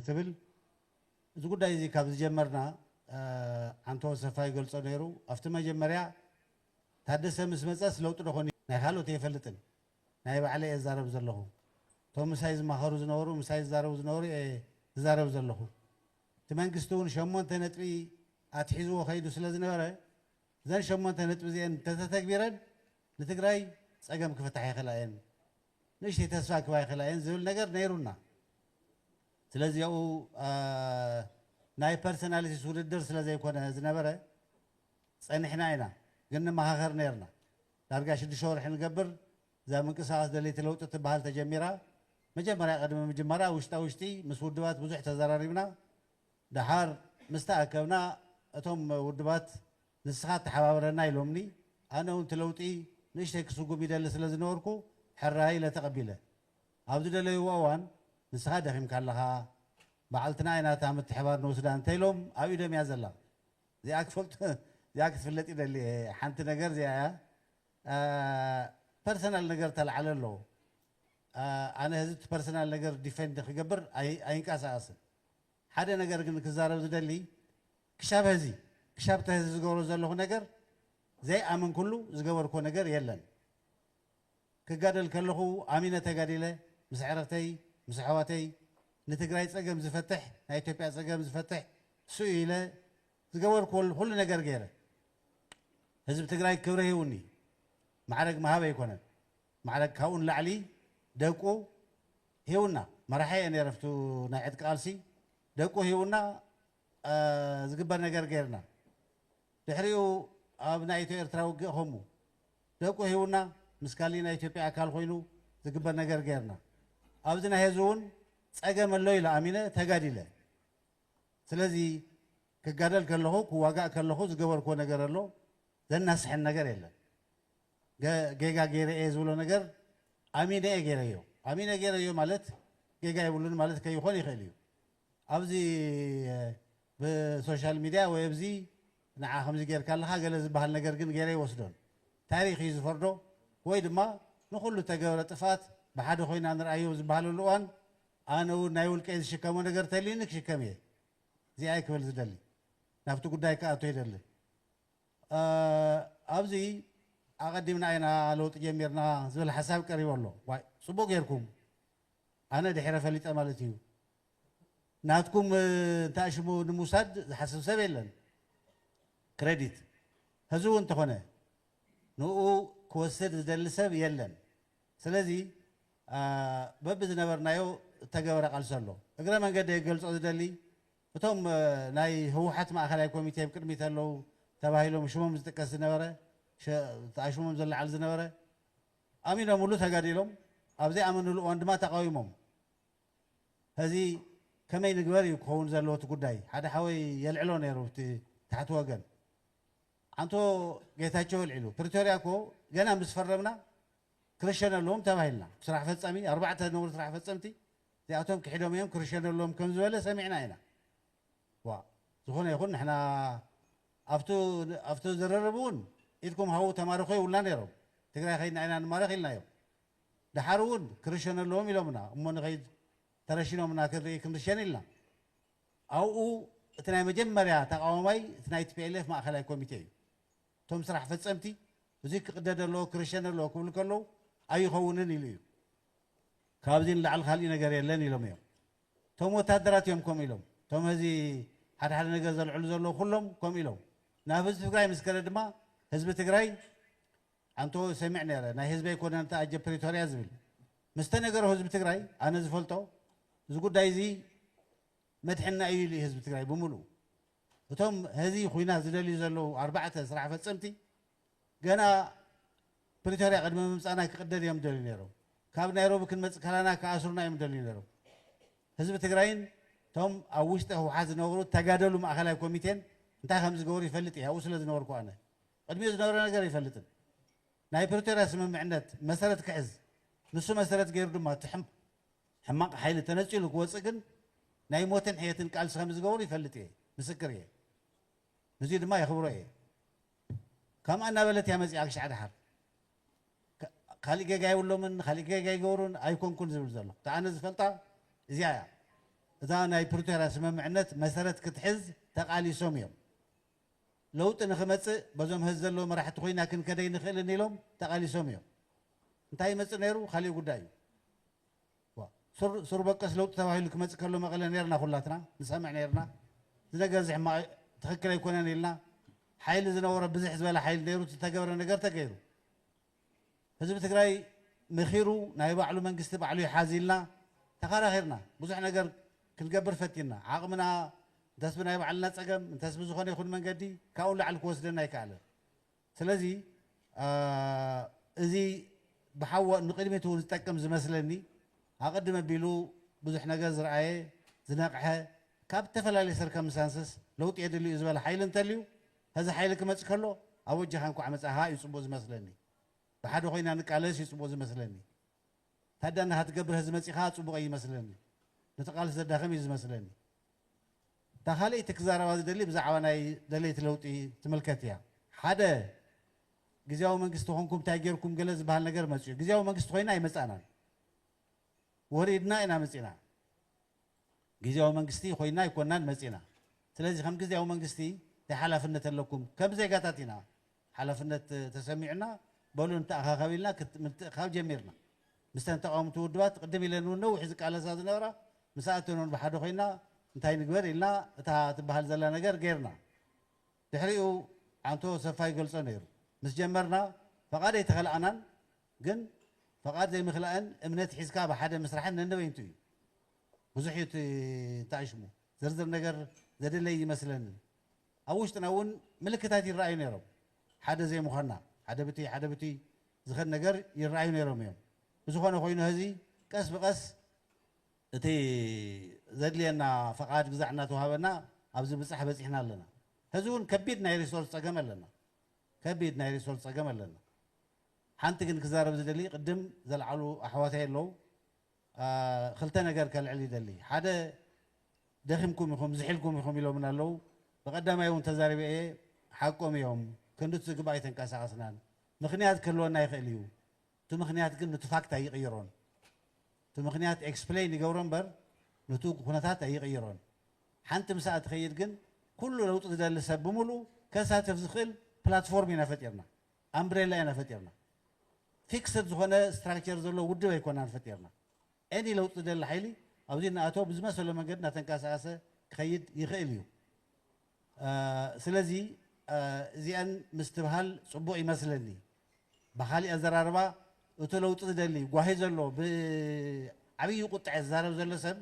ትብል እዚ ጉዳይ እዚ ካብ ዝጀመርና ዓንተዎ ሰፋ ይገልጾ ነይሩ ኣብቲ መጀመርያ ታደሰ ምስ መጸስ ለውጢ ዶ ኮን ናይ ካልኦት እየፈልጥን ናይ ባዕለይ እየ ዝዛረብ ዘለኹ እቶም ምሳይ ዝማኸሩ ዝነበሩ ምሳይ ዝዛረቡ ዝነበሩ እየ ዝዛረብ ዘለኹ እቲ መንግስቲ እውን ሸሞንተ ነጥቢ ኣትሒዝዎ ከይዱ ስለ ዝነበረ እዘን ሸሞንተ ነጥቢ እዚኤን እንተተተግቢረን ንትግራይ ጸገም ክፍታሓ ይኽእላ እየን ንእሽተይ ተስፋ ክህባ ይኽእላ እየን ዝብል ነገር ነይሩና። ስለዚ ኣብኡ ናይ ፐርሰናሊቲስ ውድድር ስለ ዘይኮነ ዝነበረ ጸኒሕና ኢና፣ ግን ንመኻኸር ነይርና። ዳርጋ ሽዱሽተ ወርሒ ንገብር፣ እዛ ምንቅስቓስ ደለይቲ ለውጢ እትበሃል ተጀሚራ። መጀመርያ ቅድሚ ምጅማራ ውሽጣ ውሽጢ ምስ ውድባት ብዙሕ ተዘራሪብና፣ ደሓር ምስ ተኣከብና እቶም ውድባት ንስኻ ተሓባበረና ኢሎምኒ፣ ኣነ እውን እቲ ለውጢ ንእሽተይ ክስጉም ይደሊ ስለ ዝነበርኩ ሕራይ ኢለ ተቐቢለ። ኣብ ዝደለዩዎ እዋን ንስኻ ደኺምካ ኣለኻ፣ በዓልትና ኢና እታ ምትሕብባር ንውስዳ እንተ ኢሎም ኣብ ኢዶም እያ ዘላ። እዚኣ ክፈልጡ እዚኣ ክትፍለጥ ይደሊ እየ ሓንቲ ነገር እዚኣ እያ ፐርሰናል ነገር ተላዕለ ኣሎ ኣነ ህዚ እቲ ፐርሰናል ነገር ዲፈንድ ክገብር ኣይንቀሳቐስን ሓደ ነገር ግን ክዛረብ ዝደሊ ክሻብ ሀዚ ክሻብ ተሀዚ ዝገብሮ ዘለኹ ነገር ዘይኣመንኩሉ ዝገበርኩዎ ነገር የለን። ክጋደል ከለኹ ኣሚነ ተጋዲለ ምስ ኣዕርኽተይ ምስ ኣሕዋተይ ንትግራይ ፀገም ዝፈትሕ ናይ ኢትዮጵያ ፀገም ዝፈትሕ ሱኡ ኢለ ዝገበርኩዎ ኹሉ ነገር ገይረ ህዝቢ ትግራይ ክብሪ ሂቡኒ ማዕረግ ምሃብ ኣይኮነን ማዕረግ ካብኡ ንላዕሊ ደቁ ሂቡና መራሒ እየ ነይረ ኣብቲ ናይ ዕጥቂ ቃልሲ ደቁ ሂቡና ዝግበር ነገር ገይርና ድሕሪኡ ኣብ ናይ ኢትዮ ኤርትራ ውግእ ከሙ ደቁ ሂቡና ምስ ካሊእ ናይ ኢትዮጵያ ኣካል ኮይኑ ዝግበር ነገር ገይርና ኣብዚ ናይ ህዚ እውን ፀገም ኣሎ ኢለ ኣሚነ ተጋዲለ ስለዚ ክጋደል ከለኹ ክዋጋእ ከለኹ ዝገበርኩዎ ነገር ኣሎ ዘናስሕን ነገር የለን ጌጋ ገይረ እየ ዝብሎ ነገር ኣሚነ እየ ገይረዮ ኣሚነ ገይረዮ ማለት ጌጋ የብሉን ማለት ከይኾን ይኽእል እዩ ኣብዚ ብሶሻል ሚድያ ወይ ኣብዚ ንዓ ከምዚ ጌርካ ኣለኻ ገለ ዝበሃል ነገር ግን ጌረ ኣይወስዶን። ታሪኽ እዩ ዝፈርዶ ወይ ድማ ንኹሉ እተገብረ ጥፍኣት ብሓደ ኮይና ንርኣዮ ዝበሃለሉ እዋን ኣነ እውን ናይ ውልቀይ ዝሽከሞ ነገር ተልዩኒ ክሽከም እየ እዚኣይ ክብል ዝደሊ። ናብቲ ጉዳይ ክኣቱ ኣይደልን። ኣብዚ ኣቐዲምና ኢና ለውጢ ጀሚርና ዝብል ሓሳብ ቀሪቡ ኣሎ። ዋይ ጽቡቕ ጌርኩም። ኣነ ድሒረ ፈሊጠ ማለት ኢዩ ናትኩም እንተኣሽሙ ንምውሳድ ዝሓስብ ሰብ የለን ክረዲት ሀዚ እውን እንተኾነ ንኡ ክወስድ ዝደሊ ሰብ የለን ስለዚ በቢ ዝነበርናዮ እተገበረ ቃልሲ ኣሎ እግረ መንገደይ ክገልጾ ዝደሊ እቶም ናይ ህወሓት ማእኸላይ ኮሚቴ ብቅድሚት ኣለው ተባሂሎም ሽሞም ዝጥቀስ ዝነበረ ኣሽሞም ዝለዓል ዝነበረ ኣሚኖምሉ ተጋዲሎም ኣብ ዘይኣመንሉ እዋን ድማ ተቓዊሞም ሀዚ ከመይ ንግበር እዩ ክኸውን ዘለዎ እቲ ጉዳይ ሓደ ሓወይ የልዕሎ ነይሩ ብቲ ታሕቲ ወገን ኣንቶ ጌታቸው ኣልዒሉ ፕሪቶርያ እኮ ገና ምስ ፈረምና ክርሸነ ኣለዎም ተባሂልና ስራሕ ፈፃሚ ኣርባዕተ ዝነበሩ ስራሕ ፈፀምቲ እዚኣቶም ክሒዶም እዮም ክርሸኑ ኣለዎም ከም ዝበለ ሰሚዕና ኢና ዋእ ዝኾነ ይኹን ንሕና ኣብቱ ኣብቱ ዝርርብ እውን ኢድኩም ሃቡ ተማረኹ ይብሉና ነይሮም ትግራይ ከይድና ኢና ንማረኽ ኢልናዮም ደሓር እውን ክርሸኑ ኣለዎም ኢሎምና እሞ ንኸይድ ተረሺኖምና ክንርኢ ክንርሸን ኢልና ኣብኡ እቲ ናይ መጀመርያ ተቓዋማይ እቲ ናይ tplf ማእኸላይ ኮሚቴ እዩ እቶም ስራሕ ፈፀምቲ እዙይ ክቕደድ ኣለዎ ክርሸን ኣለዎ ክብሉ ከለዉ ኣይኸውንን ኢሉ እዩ ካብዚ ንላዕሊ ካሊእ ነገር የለን ኢሎም እዮም እቶም ወታደራት እዮም ከምኡ ኢሎም። እቶም ሀዚ ሓደ ሓደ ነገር ዘልዕሉ ዘለዉ ኩሎም ከምኡ ኢሎም። ናብ ህዝቢ ትግራይ ምስ ከደ ድማ ህዝቢ ትግራይ ኣንቶ ሰሚዕ ነይረ ናይ ህዝቢ ኣይኮነን እቲ ኣጀ ፕሪቶርያ ዝብል ምስ ተነገሮ ህዝቢ ትግራይ ኣነ ዝፈልጦ እዚ ጉዳይ እዚ መድሕንና እዩ ኢሉ እዩ ህዝቢ ትግራይ ብምሉኡ። እቶም ሀዚ ኹናት ዝደልዩ ዘለዉ ኣርባዕተ ስራሕ ፈፀምቲ ገና ፕሪቶርያ ቅድሚ ምምጻእና ክቕደድ እዮም ዝደልዩ ነይሮም። ካብ ናይሮቢ ክንመጽእ ከላና ክኣስሩና እዮም ዝደልዩ ነይሮም። ህዝቢ ትግራይን እቶም ኣብ ውሽጢ ህወሓት ዝነበሩ ተጋደሉ ማእኸላይ ኮሚቴን እንታይ ከም ዝገበሩ ይፈልጥ እየ፣ ኣብኡ ስለ ዝነበርኩ ኣነ። ቅድሚኡ ዝነበረ ነገር ኣይፈልጥን። ናይ ፕሪቶርያ ስምምዕነት መሰረት ክሕዝ፣ ንሱ መሰረት ገይሩ ድማ እቲ ሕማቕ ሓይሊ ተነጺሉ ክወጽእ ግን ናይ ሞትን ሕየትን ቃልሲ ከም ዝገበሩ ይፈልጥ እየ፣ ምስክር እየ። ንዙይ ድማ የኽብሮ እየ። ከምኣ እናበለት እያ መጺኣ ክሻዕ ደሓር ካሊእ ጌጋ የብሎምን ካሊእ ጌጋ ኣይገበሩን ኣይኮንኩን ዝብል ዘሎ እቲ ኣነ ዝፈልጣ እዚኣ እያ እዛ ናይ ፕሪቶርያ ስምምዕነት መሰረት ክትሕዝ ተቃሊሶም እዮም ለውጢ ንክመጽእ በዞም ሀዚ ዘለዉ መራሕቲ ኮይና ክንከድ ኣይንኽእልን ኢሎም ተቃሊሶም እዮም እንታይ ይመጽእ ነይሩ ካሊእ ጉዳይ እዩ ዋእ ሱር ሱር በቀስ ለውጢ ተባሂሉ ክመጽእ ከሎ መቐለ ኔርና ኩላትና ንሰምዕ ኔርና እዚ ነገር እዚ ሕማቕ ትኽክል ኣይኮነን ኢልና ሓይሊ ዝነበሮ ብዝሕ ዝበለ ሓይሊ ኔሩ ዝተገብረ ነገር ተገይሩ ህዝቢ ትግራይ መኺሩ ናይ ባዕሉ መንግስቲ ባዕሉ ይሓዝ ኢልና ተኻራኺርና ብዙሕ ነገር ክንገብር ፈቲንና ዓቕምና እንተስ ብናይ ባዕልና ጸገም እንተስ ብዝኾነ ይኹን መንገዲ ካብኡ ንላዕሊ ክወስደና ኣይከኣለን ስለዚ እዚ ብሓወ ንቅድሚት እውን ዝጠቅም ዝመስለኒ ኣቅድም ኣቢሉ ብዙሕ ነገር ዝረኣየ ዝነቅሐ ካብ እተፈላለየ ሰርከምሳንስስ ለውጢ የድሊ እዩ ዝበለ ሓይሊ እንተልዩ ሀዚ ሓይሊ ክመፅ ከሎ ኣወጃካ እንኳዕ መፃኻ እዩ ፅቡቅ ዝመስለኒ ብሓደ ኮይና ንቃለስ እዩ ፅቡቅ ዝመስለኒ ታዳናካ ትገብር ሀዚ መፂኻ ፅቡቅ ኣይመስለኒ ነቲ ቃልሲ ዘዳክም እዩ ዝመስለኒ እታ ካልኣይቲ ክዛረባ ዝደሊ ብዛዕባ ናይ ደለይቲ ለውጢ ትምልከት እያ። ሓደ ግዝያዊ መንግስቲ ኮንኩም እንታይ ጌርኩም ገለ ዝበሃል ነገር መጺኡ። ግዝያዊ መንግስቲ ኮይና ኣይመጻእናን። ወሪድና ኢና መጺእና። ግዝያዊ መንግስቲ ኮይና ኣይኮናን መጺእና። ስለዚ ከም ግዝያዊ መንግስቲ እንታይ ሓላፍነት ኣለኩም? ከም ዜጋታት ኢና። ሓላፍነት ተሰሚዑና በሉ ንተኣኻኸብ ኢልና ምትእኽኻብ ጀሚርና። ምስተን ተቓወምቲ ውድባት ቕድም ኢለን እውን ነዊሕ ዝቃለሳ ዝነበራ ምስኣተን እውን ብሓደ ኮይና እንታይ ንግበር ኢልና እታ ትበሃል ዘላ ነገር ገይርና። ድሕሪኡ ዓንቶ ሰፋ ይገልጾ ነይሩ። ምስ ጀመርና ፈቓድ ኣይተኸልኣናን ግን ፈቓድ ዘይምኽላእን እምነት ሒዝካ ብሓደ ምስራሕን ነንበይንቱ እዩ። ብዙሕ እዩ እቲ እንተኣሽሙ። ዝርዝር ነገር ዘድለይ እይመስለንን። ኣብ ውሽጥና እውን ምልክታት ይረኣዩ ነይሮም። ሓደ ዘይምዃንና፣ ሓደ ብቲ ሓደ ብቲ ዝኸድ ነገር ይረኣዩ ነይሮም እዮም። ብዝኾነ ኮይኑ ሀዚ ቀስ ብቀስ እቲ ዘድልየና ፈቓድ ግዛዕ እናተውሃበና ኣብዚ ብጻሕ በጺሕና ኣለና። ሀዚ እውን ከቢድ ናይ ሪሶርስ ጸገም ኣለና። ከቢድ ናይ ሪሶርስ ጸገም ኣለና። ሓንቲ ግን ክዛረብ ዝደሊ ቅድም ዘልዓሉ ኣሕዋተይ ኣለው። ክልተ ነገር ከልዕል ይደሊ ሓደ ደኺምኩም ኢኹም ዝሒልኩም ኢኹም ኢሎምና ኣለዉ ብቀዳማይ እውን ተዛሪበ እየ ሓቆም እዮም ክንድቲ ዝግባእ ኣይተንቀሳቀስናን ምኽንያት ክህልወና ይኽእል እዩ እቲ ምኽንያት ግን ንቲ ፋክት ኣይቕይሮን እቲ ምኽንያት ኤክስፕሌን ይገብሮ እምበር ንቲ ኩነታት ኣይቕይሮን ሓንቲ ምስኣ ትኸይድ ግን ኩሉ ለውጢ ዝደሊ ሰብ ብምሉ ከሳትፍ ዝኽእል ፕላትፎርም ኢና ፈጢርና ኣምብሬላ ኢና ፈጢርና ፊክስድ ዝኾነ ስትራክቸር ዘለዎ ውድብ ኣይኮናን ፈጢርና። Any ለውጢ ዝደሊ ሓይሊ ኣብዚ እናኣተወ ብዝመሰሎ መንገዲ እናተንቀሳቐሰ ክኸይድ ይኽእል እዩ። ስለዚ እዚኣን ምስትብሃል ፅቡቕ ይመስለኒ። ብኻሊእ ኣዘራርባ እቱ ለውጢ ዝደሊ ጓሂ ዘሎ ብዓብዪ ቁጥዐ ዝዛረብ ዘሎ ሰብ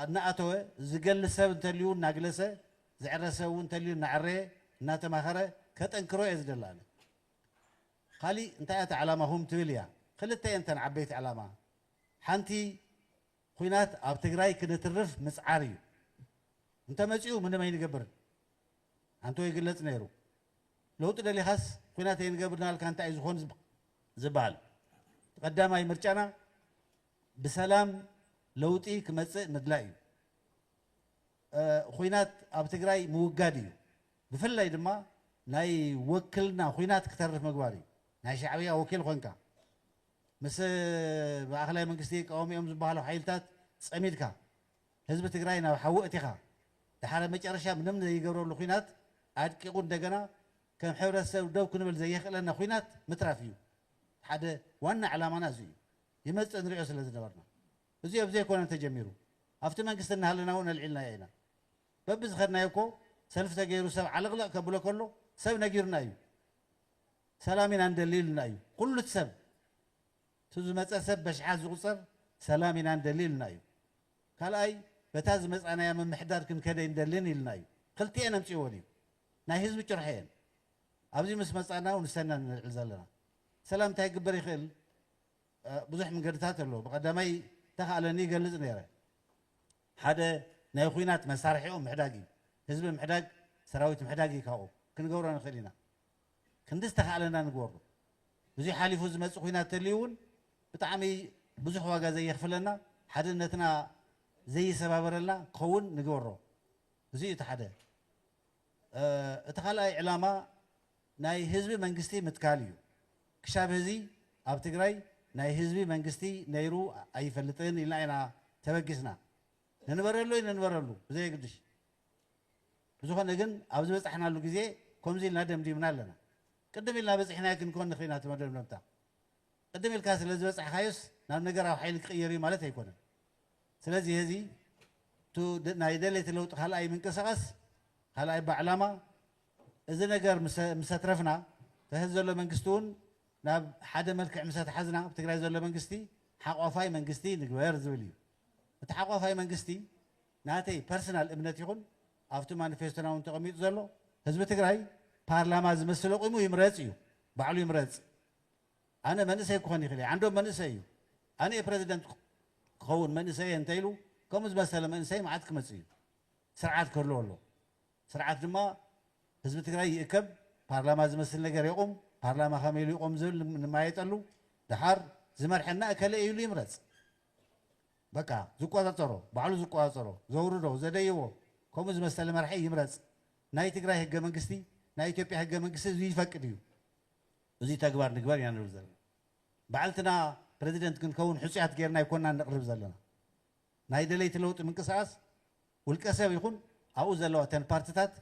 እናኣተወ ዝገሊ ሰብ እንተልዩ እናግለሰ፣ ዝዕረ ሰብ እውን እንተልዩ እናዐረየ፣ እናተማኸረ ከጠንክሮ እየ ዝደሊ ኣነ። ካሊእ እንታይ እያ እታ ዕላማኹም ትብል እያ። ክልተ እየን እተን ዓበይቲ ዕላማ። ሓንቲ ኹናት ኣብ ትግራይ ክንትርፍ ምፅዓር እዩ። እንተመፂኡ ምንም ኣይንገብርን ኣንተወ ይግለፅ ነይሩ። ለውጢ ደሊኻስ ኹናት ኣይንገብርን ኣልካ እንታይ እዩ ዝኾን ዝበሃል። እቲ ቀዳማይ ምርጫና ብሰላም ለውጢ ክመፅእ ምድላይ እዩ። ኹናት ኣብ ትግራይ ምውጋድ እዩ። ብፍላይ ድማ ናይ ወክልና ኹናት ክተርፍ ምግባር እዩ። ናይ ሻዕብያ ወኪል ኾንካ ምስ ማእኸላይ መንግስቲ ይቃወሙ እዮም ዝበሃሉ ሓይልታት ፀሚድካ ህዝቢ ትግራይ ናብ ሓዊ እቲኻ ደሓረ መጨረሻ ምንም ዘይገብረሉ ኹናት ኣድቂቑ እንደገና ከም ሕብረተሰብ ደው ክንብል ዘየኽእለና ኹናት ምትራፍ እዩ። ሓደ ዋና ዕላማና እዚ እዩ። ይመጽእ ንሪኦ ስለ ዝነበርና እዚኦ ብዘይኮነን ተጀሚሩ ኣብቲ መንግስቲ እናሃለና እውን ኣልዒልናዮ ኢና በብዝኸድናዮ እኮ ሰልፊ ተገይሩ ሰብ ዓለቕለቕ ከብሎ ከሎ ሰብ ነጊሩና እዩ ሰላም ኢና ንደሊ ኢሉና እዩ ኩሉ እቲ ሰብ እቲ ዝመፀ ሰብ በሽሓት ዝቑፀር ሰላም ኢና ንደሊ ኢሉና እዩ ካልኣይ በታ ዝመፃናያ ምምሕዳር ክንከደ ይንደልን ኢልና እዩ ክልቲኤን ኣምፅዎን እዩ ናይ ህዝቢ ጭርሖ እየን ኣብዚ ምስ መፃና ንሰና ንልዕል ዘለና ሰላም እንታይ ግበር ይኽእል ብዙሕ ምንገድታት ኣሎ ብቀዳማይ ተካእለኒ ይገልጽ ነረ ሓደ ናይ ኹናት መሳርሒኦም ምሕዳግ እዩ ህዝቢ ምሕዳግ ሰራዊት ምሕዳግ እዩ ካብኡ ክንገብሮ ንክእል ኢና ክንዲ ዝተካእለና ንግበሩ እዚ ሓሊፉ ዝመጽእ ኹናት ተልዩ እውን ብጣዕሚ ብዙሕ ዋጋ ዘየኽፍለና ሓድነትና ዘይሰባበረልና ክኸውን ንግበሮ እዚ እዩ እቲ ሓደ እቲ ካልኣይ ዕላማ ናይ ህዝቢ መንግስቲ ምትካል እዩ። ክሻብ ሀዚ ኣብ ትግራይ ናይ ህዝቢ መንግስቲ ነይሩ ኣይፈልጥን ኢልና ኢና ተበጊስና። ንንበረሉ ኣይንንበረሉ ብዘየግድሽ። ብዝኾነ ግን ኣብ ዝበፃሕናሉ ግዜ ከምዚ ኢልና ደምዲምና ኣለና። ቅድም ኢልና በፂሕናዮ ክንኮን ንኽእል ኢና እቲ መደምደምታ። ቅድም ኢልካ ስለዝበፃሕኻዮስ ናብ ነገራዊ ሓይሊ ክቕየር እዩ ማለት ኣይኮነን። ስለዚ ሔዚ እቱ ናይ ደለይቲ ለውጢ ካልኣይ ምንቅስቃስ ካልኣይ ባዕላማ እዚ ነገር ምሰትረፍና ተሕዚ ዘሎ መንግስቲ እውን ናብ ሓደ መልክዕ ምሰተሓዝና ኣብ ትግራይ ዘሎ መንግስቲ ሓቋፋይ መንግስቲ ንግበር ዝብል እዩ። እቲ ሓቋፋይ መንግስቲ ናተይ ፐርስናል እምነት ይኹን ኣብቲ ማኒፌስቶና እውን ተቀሚጡ ዘሎ ህዝቢ ትግራይ ፓርላማ ዝመስል ኣቁሙ ይምረፅ እዩ ባዕሉ ይምረፅ። ኣነ መንእሰይ ክኾን ይኽእል እየ፣ ዓንዶም መንእሰይ እዩ፣ ኣነ እየ ፕረዚደንት ክኸውን መንእሰይ እየ እንተኢሉ፣ ከምኡ ዝመሰለ መንእሰይ መዓት ክመፅእ እዩ። ስርዓት ክህልዎ ኣለዎ። ስርዓት ድማ ህዝቢ ትግራይ ይእከብ፣ ፓርላማ ዝመስል ነገር የቑም፣ ፓርላማ ከመይ ኢሉ ይቖም ዝብል ንመያየጠሉ፣ ደሓር ዝመርሐና እከለ እዩ ኢሉ ይምረፅ። በቃ ዝቆፃፀሮ፣ ባዕሉ ዝቆፃፀሮ፣ ዘውርዶ፣ ዘደይቦ ከምኡ ዝመሰለ መራሒ ይምረፅ። ናይ ትግራይ ህገ መንግስቲ፣ ናይ ኢትዮጵያ ህገ መንግስቲ እዙይ ይፈቅድ እዩ። እዚ ተግባር ንግበር ኢና ንብል ዘለና። ባዕልትና ፕረዚደንት ክንከውን ሕጹያት ጌርና ኣይኮናን ነቕርብ ዘለና። ናይ ደለይቲ ለውጢ ምንቅስቓስ ውልቀሰብ ይኹን ኣብኡ ዘለዋ እተን ፓርትታት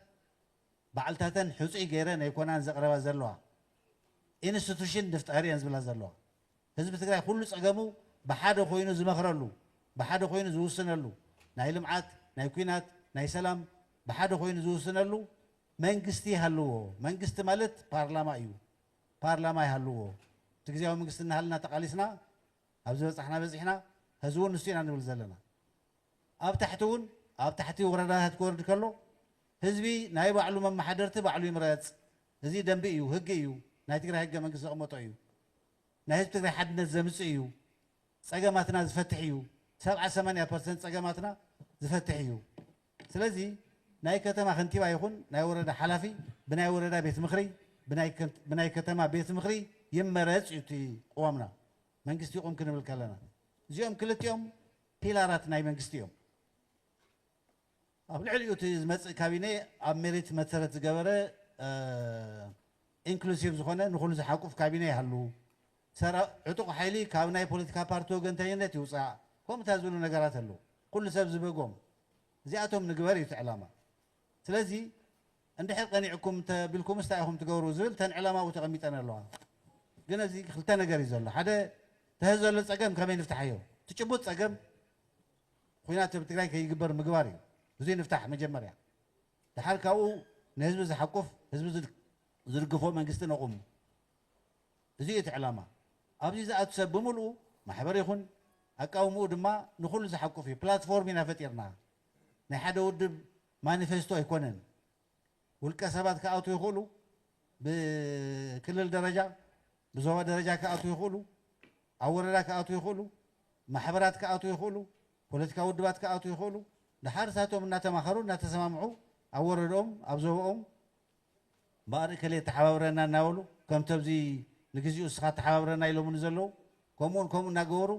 ባዕልታተን ሕጹይ ገይረን ኣይኮናን ዘቕረባ ዘለዋ። ኢንስቱሽን ንፍጠር እየን ዝብላ ዘለዋ። ህዝቢ ትግራይ ኩሉ ጸገሙ ብሓደ ኮይኑ ዝመኽረሉ፣ ብሓደ ኮይኑ ዝውስነሉ፣ ናይ ልምዓት፣ ናይ ኩናት፣ ናይ ሰላም ብሓደ ኮይኑ ዝውስነሉ መንግስቲ ይሃልዎ መንግስቲ ማለት ፓርላማ እዩ ፓርላማ ይሃልዎ እቲ ግዝያዊ መንግስቲ እናሃለና ተቓሊስና ኣብ ዝበፃሕና በፂሕና ሀዚ እውን ንሱ ኢና ንብል ዘለና ኣብ ታሕቲ እውን ኣብ ታሕቲ ወረዳታት ክወርድ ከሎ ህዝቢ ናይ ባዕሉ መመሓደርቲ ባዕሉ ይምረፅ እዚ ደንቢ እዩ ህጊ እዩ ናይ ትግራይ ህገ መንግስቲ ዘቕመጦ እዩ ናይ ህዝቢ ትግራይ ሓድነት ዘምፅእ እዩ ፀገማትና ዝፈትሕ እዩ ሰብዓ ሰማንያ ፐርሰንት ፀገማትና ዝፈትሕ እዩ ስለዚ ናይ ከተማ ከንቲባ ይኹን ናይ ወረዳ ሓላፊ ብናይ ወረዳ ቤት ምኽሪ ብናይ ከተማ ቤት ምኽሪ ይመረፅ እዩ እቲ ቕዋምና መንግስቲ ይቑም ክንብል ከለና እዚኦም ክልቲኦም ፒላራት ናይ መንግስቲ እዮም። ኣብ ልዕሊኡ እቲ ዝመፅእ ካቢኔ ኣብ ሜሪት መሰረት ዝገበረ ኢንክሉሲቭ ዝኾነ ንኹሉ ዝሓቁፍ ካቢኔ ይሃሉ። ሰረ ዕጡቕ ሓይሊ ካብ ናይ ፖለቲካ ፓርቲ ወገንተኝነት ይውጻእ ከምኡታ ዝብሉ ነገራት ኣለው ኩሉ ሰብ ዝበጎም እዚኣቶም ንግበር እዩ እቲ ዕላማ ስለዚ እንድሕር ቀኒዕኩም እንተ ቢልኩምስ ታይ ኢኹም ትገብሩ ዝብል ተን ዕላማኡ ተቐሚጠን ኣለዋ ግን ኣብዚ ክልተ ነገር እዩ ዘሎ ሓደ ተህ ዘሎ ጸገም ከመይ ንፍታሓዮ እቲ ጭቡጥ ጸገም ኹናት ኣብ ትግራይ ከይግበር ምግባር እዩ እዙይ ንፍታሕ መጀመርያ ድሓር ካብኡ ንህዝቢ ዝሓቁፍ ህዝቢ ዝድግፎ መንግስቲ ነቑም እዚ እዩ እቲ ዕላማ። ኣብዚ ዝኣቱ ሰብ ብምልኡ ማሕበር ይኹን ኣቃውምኡ ድማ ንኹሉ ዝሓቁፍ እዩ። ፕላትፎርም ኢና ፈጢርና። ናይ ሓደ ውድብ ማኒፌስቶ ኣይኮነን። ውልቀ ሰባት ክኣትዉ ይኽእሉ፣ ብክልል ደረጃ፣ ብዞባ ደረጃ ክኣትዉ ይኽእሉ፣ ኣብ ወረዳ ክኣትዉ ይኽእሉ፣ ማሕበራት ክኣትዉ ይኽእሉ፣ ፖለቲካዊ ውድባት ክኣትዉ ይኽእሉ፣ ደሓር ንሳቶም እናተማኸሩ እናተሰማምዑ ኣብ ወረድኦም፣ ኣብ ዞባኦም እምበኣር እከሌ ተሓባብረና እናበሉ ከምቲ ኣብዚ ንግዚኡ እስኻ ተሓባብረና ኢሎሙኒ ዘለዉ ከምኡን ከምኡ እናገበሩ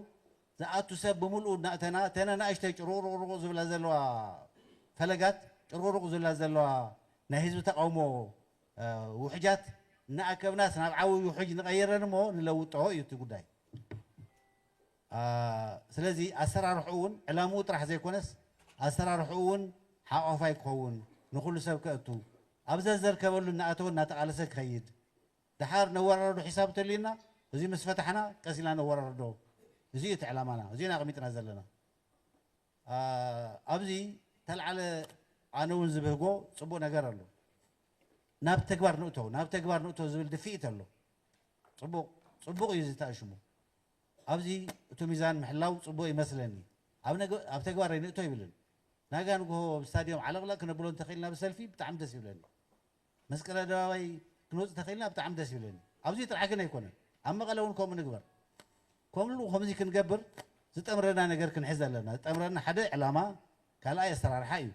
ዝኣቱ ሰብ ብምልኡ እናእተና እተን ኣናእሽተይ ጭሩቕሩቕሩቕ ዝብላ ዘለዋ ፈለጋት ጭሩቕሩቕ ዝብላ ዘለዋ ናይ ህዝቢ ተቓውሞ ውሕጃት እናኣከብናስ ናብ ዓብይ ውሕጅ ንቐይረን እሞ ንለውጦ እዩ እቲ ጉዳይ። ስለዚ ኣሰራርሕኡ እውን ዕላምኡ ጥራሕ ዘይኮነስ ኣሰራርሕኡ እውን ሓቋፋይ ክኸውን፣ ንኹሉ ሰብ ከእቱ፣ ኣብ ዘዘርከበሉ እናኣተወ እናተቓለሰ ክኸይድ፣ ደሓር ነወራርዶ ሒሳብ እንተልዩና እዙይ ምስ ፈታሕና ቀስ ኢልና ነወራርዶ፣ እዙይ እዩ እቲ ዕላማና፣ እዙይ ኢና ኣቕሚጥና ዘለና። ኣብዚ ተልዓለ ኣነ እውን ዝብህጎ ፅቡቕ ነገር ኣሎ። ናብ ተግባር ንእቶ ናብ ተግባር ንእቶ ዝብል ድፍኢት ኣሎ። ፅቡቕ ፅቡቕ እዩ እዚ ተኣሽሙ። ኣብዚ እቱ ሚዛን ምሕላው ፅቡቅ ይመስለኒ ኣብ ነገ ኣብ ተግባር ኣይንእቶ ኣይብልን ናጋ ንጉሆ ኣብ ስታድዮም ዓለቅለቅ ክነብሎ እንተክኢልና ብሰልፊ ብጣዕሚ ደስ ይብለኒ መስቀል ኣደባባይ ክንወፅእ ተክኢልና ብጣዕሚ ደስ ይብለኒ ኣብዙይ ጥራሕ ግን ኣይኮነን ኣብ መቀለ እውን ከምኡ ንግበር ከምሉ ከምዙይ ክንገብር ዝጠምረና ነገር ክንሕዝ ኣለና ዝጠምረና ሓደ ዕላማ ካልኣይ ኣሰራርሓ እዩ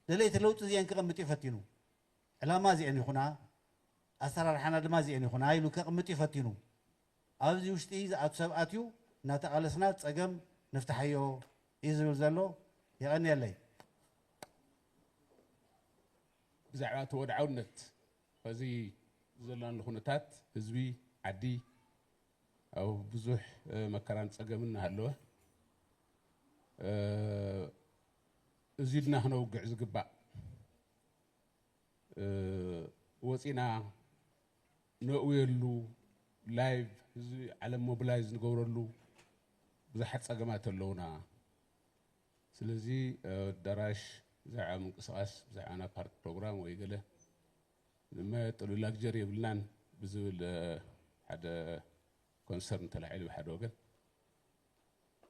ደለይቲ ለውጢ እዚአን ክቐምጥ እዩ ፈቲኑ ዕላማ እዚአን ይኹና ኣሰራርሓና ድማ እዚአን ይኹና ኢሉ ከቕምጥ እዩ ፈቲኑ ኣብዚ ውሽጢ ዝኣቱ ሰብ ኣትዩ እናተቓለስና ፀገም ንፍታሓዮ እዩ ዝብል ዘሎ። የቐንየለይ። ብዛዕባ እቲ ወድዓውነት ኸዚ ዘላሉ ኹነታት ህዝቢ ዓዲ ኣብ ብዙሕ መከራን ፀገምን እናሃለወ እዙይ ድና ኽነውግዕ ዝግባእ ወፂእና ነእውየሉ ላይቭ ህዝቢ ዓለም ሞብላይዝ ንገብረሉ ብዙሓት ፀገማት ኣለውና ስለዚ ኣዳራሽ ብዛዕባ ምንቅስቓስ ብዛዕባ ናብ ፓርቲ ፕሮግራም ወይ ገለ ንመጥሉ ላግጀሪ የብልናን ብዝብል ሓደ ኮንሰርን ተላዒሉ ብሓደ ወገን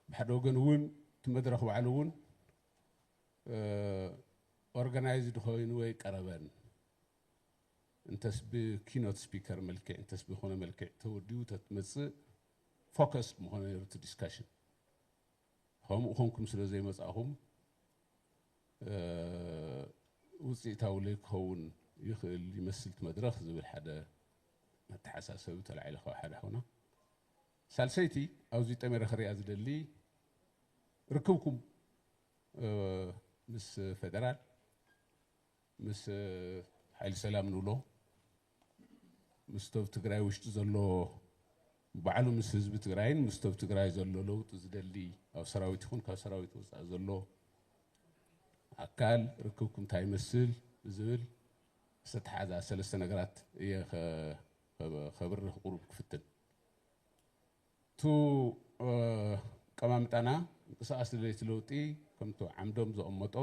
ብሓደ ወገን እውን እቲ መድረኽ ባዕሉ እውን ኦርጋናይዝድ ኮይኑ ወይ ቀረበን እንተስ ብኪኖት ስፒከር መልክዕ እንተስ ብኮነ መልክዕ ተወዲቡ ተትመጽእ ፎከስድ ምኾነ ነይሩ እቲ ዲስካሽን ከምኡ ኮንኩም ስለ ዘይመጻእኹም ውፅኢታዊ ዘይክኸውን ይኽእል ይመስል እቲ መድረኽ ዝብል ሓደ መተሓሳሰቢ ተላዒለ ካብ ሓደ ሓውና ሳልሰይቲ ኣብዚ ጠሜረ ክሪኣ ዝደሊ ርክብኩም ምስ ፌደራል ምስ ሓይሊ ሰላም ንብሎ ምስ ቶብ ትግራይ ውሽጢ ዘሎ ባዕሉ ምስ ህዝቢ ትግራይን ምስ ቶብ ትግራይ ዘሎ ለውጢ ዝደሊ ኣብ ሰራዊት ይኹን ካብ ሰራዊት ወፃኢ ዘሎ ኣካል ርክብኩም እንታይ ይመስል ብዝብል ዝተተሓዛ ሰለስተ ነገራት እየ ከብርህ ቁሩብ ክፍትን እቱ ኣቀማምጣና ምንቅስቃስ ደለይቲ ለውጢ ከምቱ ዓምዶም ዘቐመጦ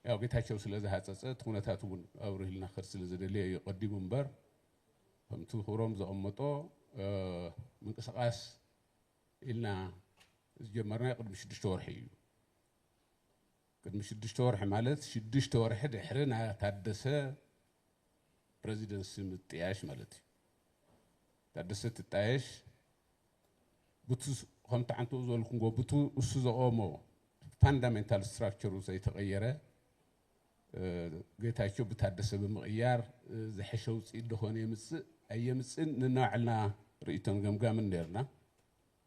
ያው ጌታቸው ስለዝሃፀፀ እቲ ኩነታት እውን ኣብርህልና ክኸድ ስለዝደለየ እዩ ቀዲሙ እምበር ከምቱ ክብሮም ዘቐመጦ ምንቅስቃስ ኢልና ዝጀመርናዮ ቅድሚ ሽዱሽተ ወርሒ እዩ። ቅድሚ ሽዱሽተ ወርሒ ማለት ሽዱሽተ ወርሒ ድሕሪ ናይ ታደሰ ፕረዚደንሲ ምጥያሽ ማለት እዩ። ታደሰ ትጣየሽ ቡቲ ከምቲ ዓንተኡ ዝበልኩምዎ ቡቲ እሱ ዘቆሞ ፋንዳሜንታል ስትራክቸሩ ዘይተቐየረ ጌታቸው ብታደሰ ብምቕያር ዝሐሸ ውፅኢት ደኾን የምፅእ ኣየምፅእን ንናባዕልና ርእይቶን ገምጋምን ነርና።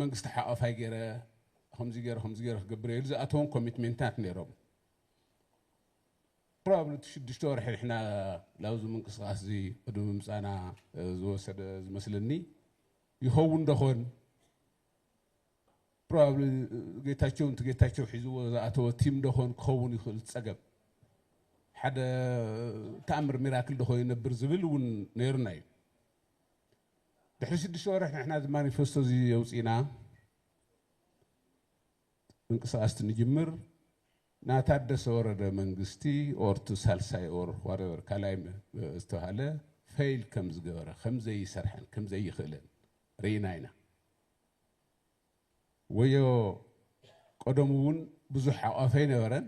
መንግስቲ ሓቛፋይ ገይረ ከምዚ ገይረ ከምዚ ገይረ ክገብር እየ ኢሉ ዝኣተዎም ኮሚትሜንታት ነይሮም ፕሮባብሊ እቲ ሽዱሽተ ወርሒ ንሕና ላብዚ ምንቅስቓስ እዚ ቅድሚ ምምፃእና ዝወሰደ ዝመስለኒ ይኸውን ዶኾን ፕሮባብሊ ጌታቸው ንቲ ጌታቸው ሒዝዎ ዝኣተወ ቲም ዶኾን ክኸውን ይኽእል ፀገም ሓደ ተኣምር ሚራክል ዶኾ ይነብር ዝብል እውን ነይሩና እዩ ድሕሪ ሽዱሽተ ወርሕ ንሕና እዚ ማኒፈስቶ እዚ የውፅእና ምንቅስቃስቲ ንጅምር ና ታደሰ ወረደ መንግስቲ ኦር እቲ ሳልሳይ ኦር ዋሬቨር ካልኣይ ዝተባሃለ ፈይል ከም ዝገበረ ከም ዘይሰርሐን ከም ዘይኽእልን ርኢና ኢና። ወዮ ቀደሙ ውን ብዙሕ ሓቋፊ ኣይነበረን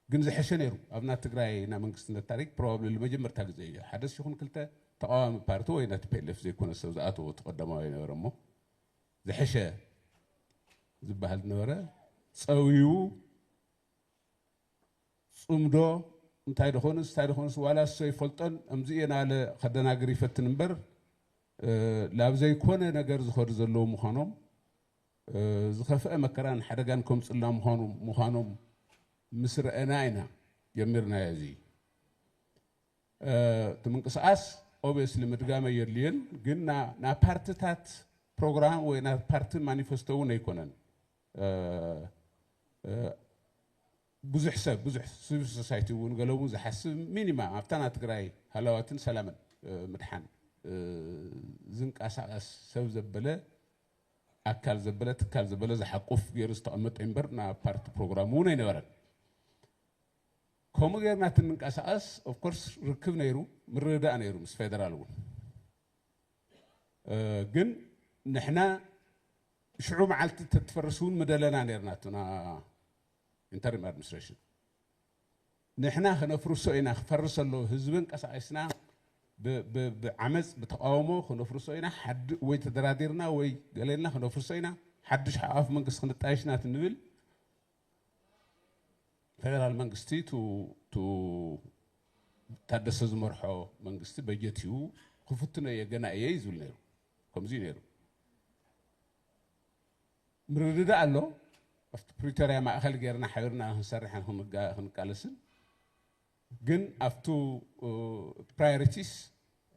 ግን ዝሐሸ ነይሩ ኣብ ናይ ትግራይ ናይ መንግስትነት ታሪክ ፕሮባብሊ ልመጀመርታ ግዜ እዮ ሐደስ ይኹን ክልተ ተቃዋሚ ፓርቲ ወይ ናይ ቲፔሌፍ ዘይኮነ ሰብ ዝኣተዎ እቲ ቀዳማዋይ ነበረ እሞ ዝሐሸ ዝበሃል ዝነበረ ፀዊው ፅምዶ እንታይ ደኾንስ እንታይ ደኾንስ ዋላ እሶ ይፈልጦን እምዚ እየ ናለ ከደናግር ይፈትን እምበር ናብ ዘይኮነ ነገር ዝኸዱ ዘለዉ ምዃኖም፣ ዝኸፍኣ መከራን ሓደጋን ከምጽልና ምዃኑ ምዃኖም ምስ ረኣና ኢና ጀሚርናዮ እዚ እቲ ምንቅስቓስ ኦቤስሊ ምድጋም ኣየድልዮን ግን ናይ ፓርትታት ፕሮግራም ወይ ናይ ፓርቲ ማኒፈስቶ እውን ኣይኮነን። ብዙሕ ሰብ ብዙሕ ስቪል ሶሳይቲ እውን ገለ እውን ዝሓስብ ሚኒማ ኣብታ ናይ ትግራይ ሃላዋትን ሰላምን ምድሓን ዝንቀሳቐስ ሰብ ዘበለ ኣካል ዘበለ ትካል ዘበለ ዝሓቁፍ ገይሩ ዝተቐመጠ እምበር ናብ ፓርቲ ፕሮግራሙ እውን ኣይነበረን። ከምኡ ጌርና እቲ እንንቀሳቐስ ኦፍኮርስ ርክብ ነይሩ ምርድዳእ ነይሩ ምስ ፌደራል እውን ግን ንሕና ሽዑ መዓልቲ ተትፈርስ እውን ምደለና ነርና እቱና ኢንተሪም ኣድሚኒስትሬሽን ንሕና ክነፍርሶ ኢና ክፈርስ ኣለዎ ህዝቢ እንቀሳቂስና ብዓመፅ ብተቃውሞ ክነፍርሶ ኢና ወይ ተደራዲርና ወይ ገሌልና ክነፍርሶ ኢና ሓዱሽ ሓቋፍ መንግስቲ ክንጣየሽ ኢና ንብል ፌደራል መንግስቲ ታደሰ ዝመርሖ መንግስቲ በጀት እዩ ክፍትኖ እየ ገና እየ እዩ ዝብል ነይሩ ከምዚ እዩ ነይሩ ምርድዳእ ኣሎ። ኣብቲ ፕሪቶርያ ማእኸል ጌርና ሓቢርና ክንሰርሕን ክንቃለስን ግን ኣብቱ ፕራዮሪቲስ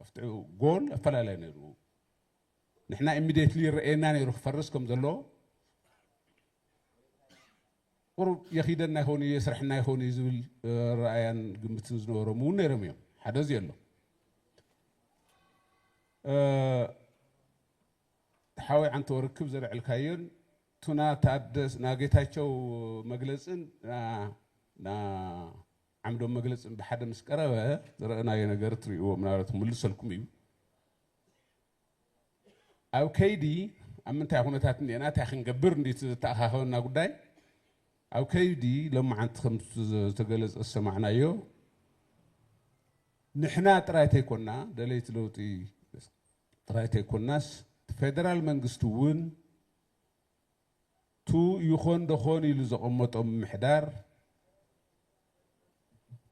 ኣብቲ ጎል ኣፈላለየ ነይሩ። ንሕና ኢሚዲየትሊ ይረኣየና ነይሩ ክፈርስ ከም ዘለዎ ቁሩብ የኺደና ይኸውን እዩ የስርሕና ይኸውን እዩ ዝብል ረኣያን ግምትን ዝነበሮም እውን ነይሮም እዮም ሓደ እዚ ኣሎ ሓወይ ዓንተው ርክብ ዘልዐልካዮን ቱና ታደስ ና ጌታቸው መግለጽን ና ዓምዶም መግለጽን ብሓደ ምስ ቀረበ ዝረእናዮ ነገር ትርእዎ ምናልባት ክምልሰልኩም እዩ ኣብ ከይዲ ኣብ ምንታይ ኩነታት እንዲና እንታይ ክንገብር እንዲ ዝተኣኻኸበና ጉዳይ ኣብ ከይዲ ሎማዓንቲ ከም ዝተገለጸ ዝሰማዕናዮ ንሕና ጥራይ ተይኮና ደለይቲ ለውጢ ጥራይ ተይኮናስ ፌደራል መንግስቲ እውን ቱ ይኾን ደኾን ኢሉ ዘቐመጦ ምምሕዳር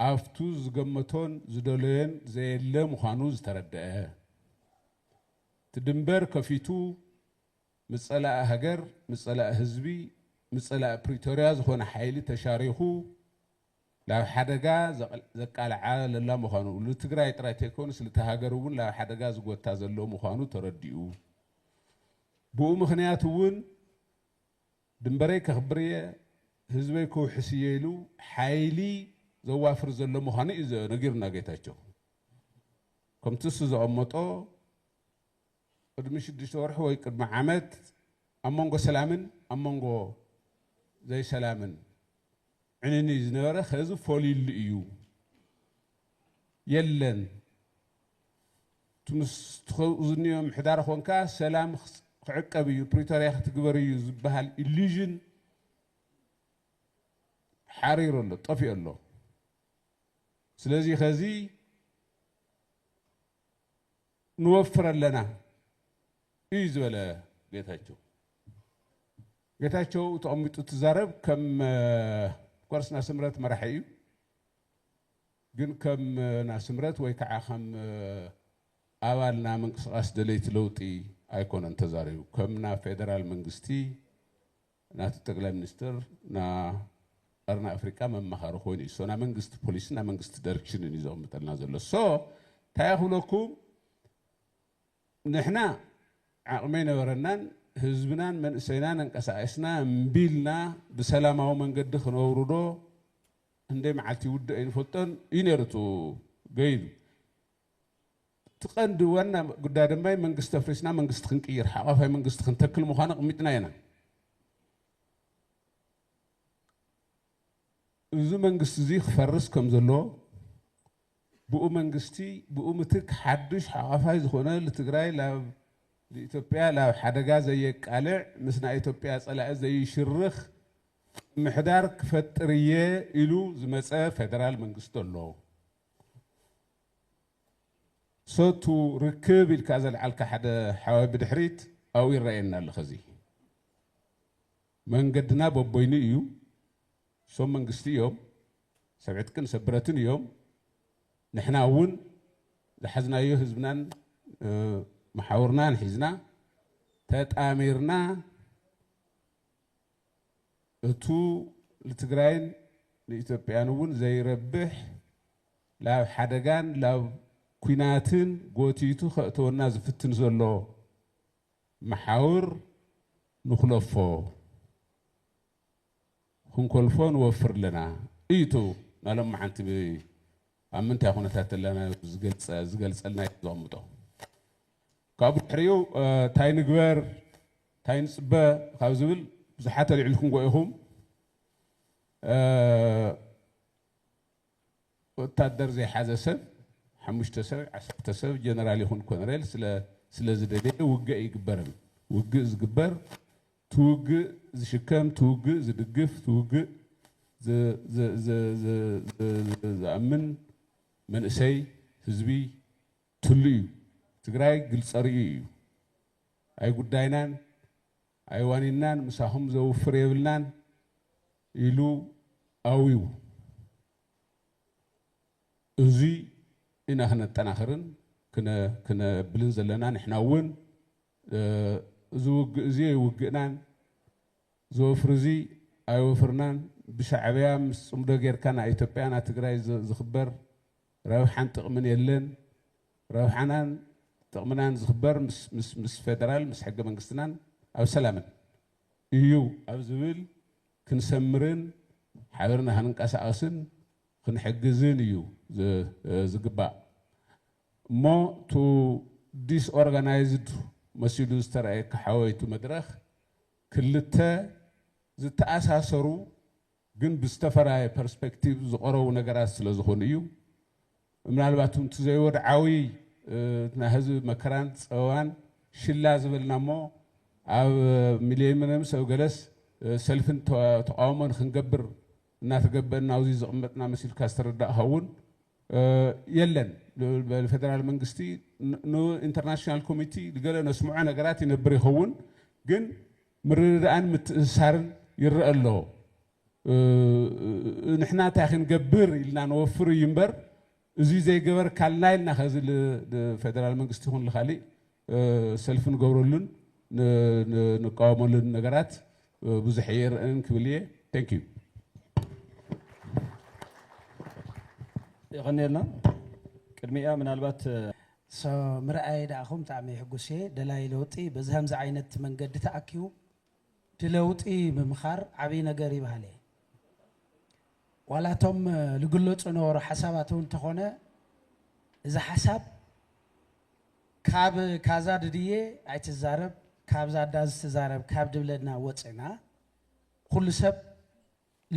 ኣፍቱ ዝገመቶን ዝደለዮን ዘየለ ምዃኑ ዝተረደኣ እቲ ድንበር ከፊቱ ምፀላኢ ሃገር ምፀላኢ ህዝቢ ምፀላኢ ፕሪቶሪያ ዝኾነ ሓይሊ ተሻሪኹ ላብ ሓደጋ ዘቃልዓ ለላ ምዃኑ፣ ልትግራይ ጥራይ ተይኮኑስ ልታ ሃገር እውን ላብ ሓደጋ ዝጎታ ዘሎ ምዃኑ ተረዲኡ። ብኡ ምኽንያት እውን ድንበረይ ከኽብር እየ፣ ህዝበይ ክውሕስ እየ ኢሉ ሓይሊ ዘዋፍር ዘሎ ምዃኑ እዩ ነጊሩና ጌታቸው። ከምቲ እሱ ዘቐመጦ፣ ቅድሚ ሽዱሽተ ወርሒ ወይ ቅድሚ ዓመት ኣብ መንጎ ሰላምን ኣብ መንጎ ዘይሰላምን ዕንኒ ዝነበረ ከዚ ፈልዩሉ እዩ የለን እቲ ምስ ትኸኡ ዝንዮ ምሕዳር ኾንካ ሰላም ክዕቀብ እዩ ፕሪቶርያ ክትግበር እዩ ዝበሃል ኢሉዥን ሓሪሩ ኣሎ ጠፊኡ ኣሎ ስለዚ ከዚ ንወፍር ኣለና እዩ ዝበለ ጌታቸው። ጌታቸው ተቐሚጡ ትዛረብ ከም ኮርስ ናስምረት መራሒ እዩ ግን ከም ናስምረት ወይ ከዓ ከም ኣባል ና ምንቅስቃስ ደለይቲ ለውጢ ኣይኮነን ተዛሪቡ ከም ና ፌደራል መንግስቲ ናቲ ጠቅላይ ሚኒስትር ን ቀርኒ ኣፍሪቃ መማኸሪ ኮይኑ እዩ ሶ ናይ መንግስቲ ፖሊሲ ናይ መንግስቲ ደርክሽንን እዩ ዘቅምጠልና ዘሎ ሶ ታይ እየ ክብለኩም ንሕና ዓቅሚ ኣይነበረናን ህዝብናን መንእሰይናን ኣንቀሳቂስና እምቢ ኢልና ብሰላማዊ መንገዲ ክነውርዶ ክንደይ መዓልቲ ይውድእ ኣይንፈልጦን እዩ ነይሩ እቱ ገይዱ እቲ ቀንዲ ዋና ጉዳይ ድማ መንግስቲ ኣፍሪስና መንግስቲ ክንቅይር ሓቛፋይ መንግስቲ ክንተክል ምዃኑ ኣቕሚጥና ኢና። እዚ መንግስቲ እዚ ክፈርስ ከም ዘለዎ ብኡ መንግስቲ ብኡ ምትክ ሓዱሽ ሓቛፋይ ዝኾነ ልትግራይ ላብ ልኢትዮጵያ ላብ ሓደጋ ዘየቃልዕ ምስ ናይ ኢትዮጵያ ጸላኢ ዘይሽርኽ ምሕዳር ክፈጥር እየ ኢሉ ዝመጸ ፌደራል መንግስቲ ኣሎ። ሰቱ ርክብ ኢልካ ዘልዓልካ ሓደ ሓወይ ብድሕሪት ኣብኡ ይረኣየኒ ኣሎ ከዚ መንገድና በቦይኑ እዩ ሶም መንግስቲ እዮም ሰብ ዕጥቅን ሰብ ብረትን እዮም ንሕና እውን ዝሓዝናዮ ህዝብናን መሓውርናን ሒዝና ተጣሚርና እቱ ልትግራይን ልኢትዮጵያን እውን ዘይረብሕ ላብ ሓደጋን ላብ ኩናትን ጎቲቱ ከእተወና ዝፍትን ዘሎ መሓውር ንኹለፎ ክንኮልፎ ንወፍር ኣለና እዩ እቱ ናይ ሎምዓንቲ ኣብ ምንታይ ኩነታት ኣለና ዝገልፀልና እዩ ዘቐምጦ ካብኡ ድሕሪኡ ታይ ንግበር ታይ ንፅበ ካብ ዝብል ብዙሓት ኣልዒልኩምዎ ኢኹም። ወታደር ዘይሓዘ ሰብ ሓሙሽተ ሰብ ዓሰርተ ሰብ ጀነራል ይኹን ኮነሬል ስለ ዝደለየ ውግእ ኣይግበርን። ውግእ ዝግበር እቲ ውግእ ዝሽከም፣ እቲ ውግእ ዝድግፍ፣ እቲ ውግእ ዝኣምን መንእሰይ ህዝቢ፣ ትሉ እዩ ትግራይ ግልፀ ርእዩ እዩ ኣይጉዳይናን ኣይዋኒንናን ምሳኹም ዘውፍር የብልናን ኢሉ ኣዊው እዙይ ኢና ክነጠናኽርን ክነብልን ዘለና ንሕና እውን እዚ ውግእ እዚ ኣይውግእናን ዘወፍር እዚ ኣይወፍርናን ብሻዕብያ ምስ ፅምዶ ጌርካ ናይ ኢትዮጵያ ናይ ትግራይ ዝኽበር ረብሓን ጥቕምን የለን። ረብሓናን ጥቕምናን ዝኽበር ምስ ፌደራል፣ ምስ ሕገ መንግስትናን ኣብ ሰላምን እዩ ኣብ ዝብል ክንሰምርን ሓቢርና ክንንቀሳቐስን ክንሕግዝን እዩ ዝግባእ እሞ እቱ ዲስ ኦርጋናይዝድ መሲሉ ዝተረኣየካ ሓወይ እቱ መድረኽ ክልተ ዝተኣሳሰሩ ግን ብዝተፈራየ ፐርስፐክቲቭ ዝቐረቡ ነገራት ስለ ዝኾኑ እዩ። ምናልባት እውን እቲ ዘይወድዓዊ ናይ ህዝቢ መከራን ጸበባን ሽላ ዝበልና እሞ ኣብ ሚሌኒየምስ ኣብ ገለስ ሰልፍን ተቓውሞ ንክንገብር እናተገበእና ኣብዚ ዝቕመጥና መሲልካ ዝተረዳእካ እውን የለን። ንፌደራል መንግስቲ ንኢንተርናሽናል ኮሚቲ ገለ ነስምዖ ነገራት ይነብር ይኸውን ግን ምርድዳእን ምትእስሳርን ይረኣ ኣሎ። ንሕና እንታይ ክንገብር ኢልና ነወፍር እዩ እምበር እዙይ ዘይገበርካልና ኢልና ከዚ ንፌደራል መንግስቲ ይኹን ንካሊእ ሰልፊ ንገብረሉን ንቃወመሉን ነገራት ብዙሕ ኣይርእን ክብል እየ። ቴንክ ዩ። የቐንየልና። ቅድሚኣ ምናልባት so ምርኣየይ ደኣኹም ብጣዕሚ ሕጉስ'የ ደላይ ለውጢ በዚ ከምዚ ዓይነት መንገዲ ተኣኪቡ ድለውጢ ምምኻር ዓብይ ነገር እዩ በሃሊ'የ ዋላ እቶም ልግለፁ ነበሩ ሓሳባት እውን እንተኾነ እዚ ሓሳብ ካብ ካዛ ድድየ ኣይትዛረብ ካብዛ ዳዝ ትዛረብ ካብ ድብለና ወፅእና ኩሉ ሰብ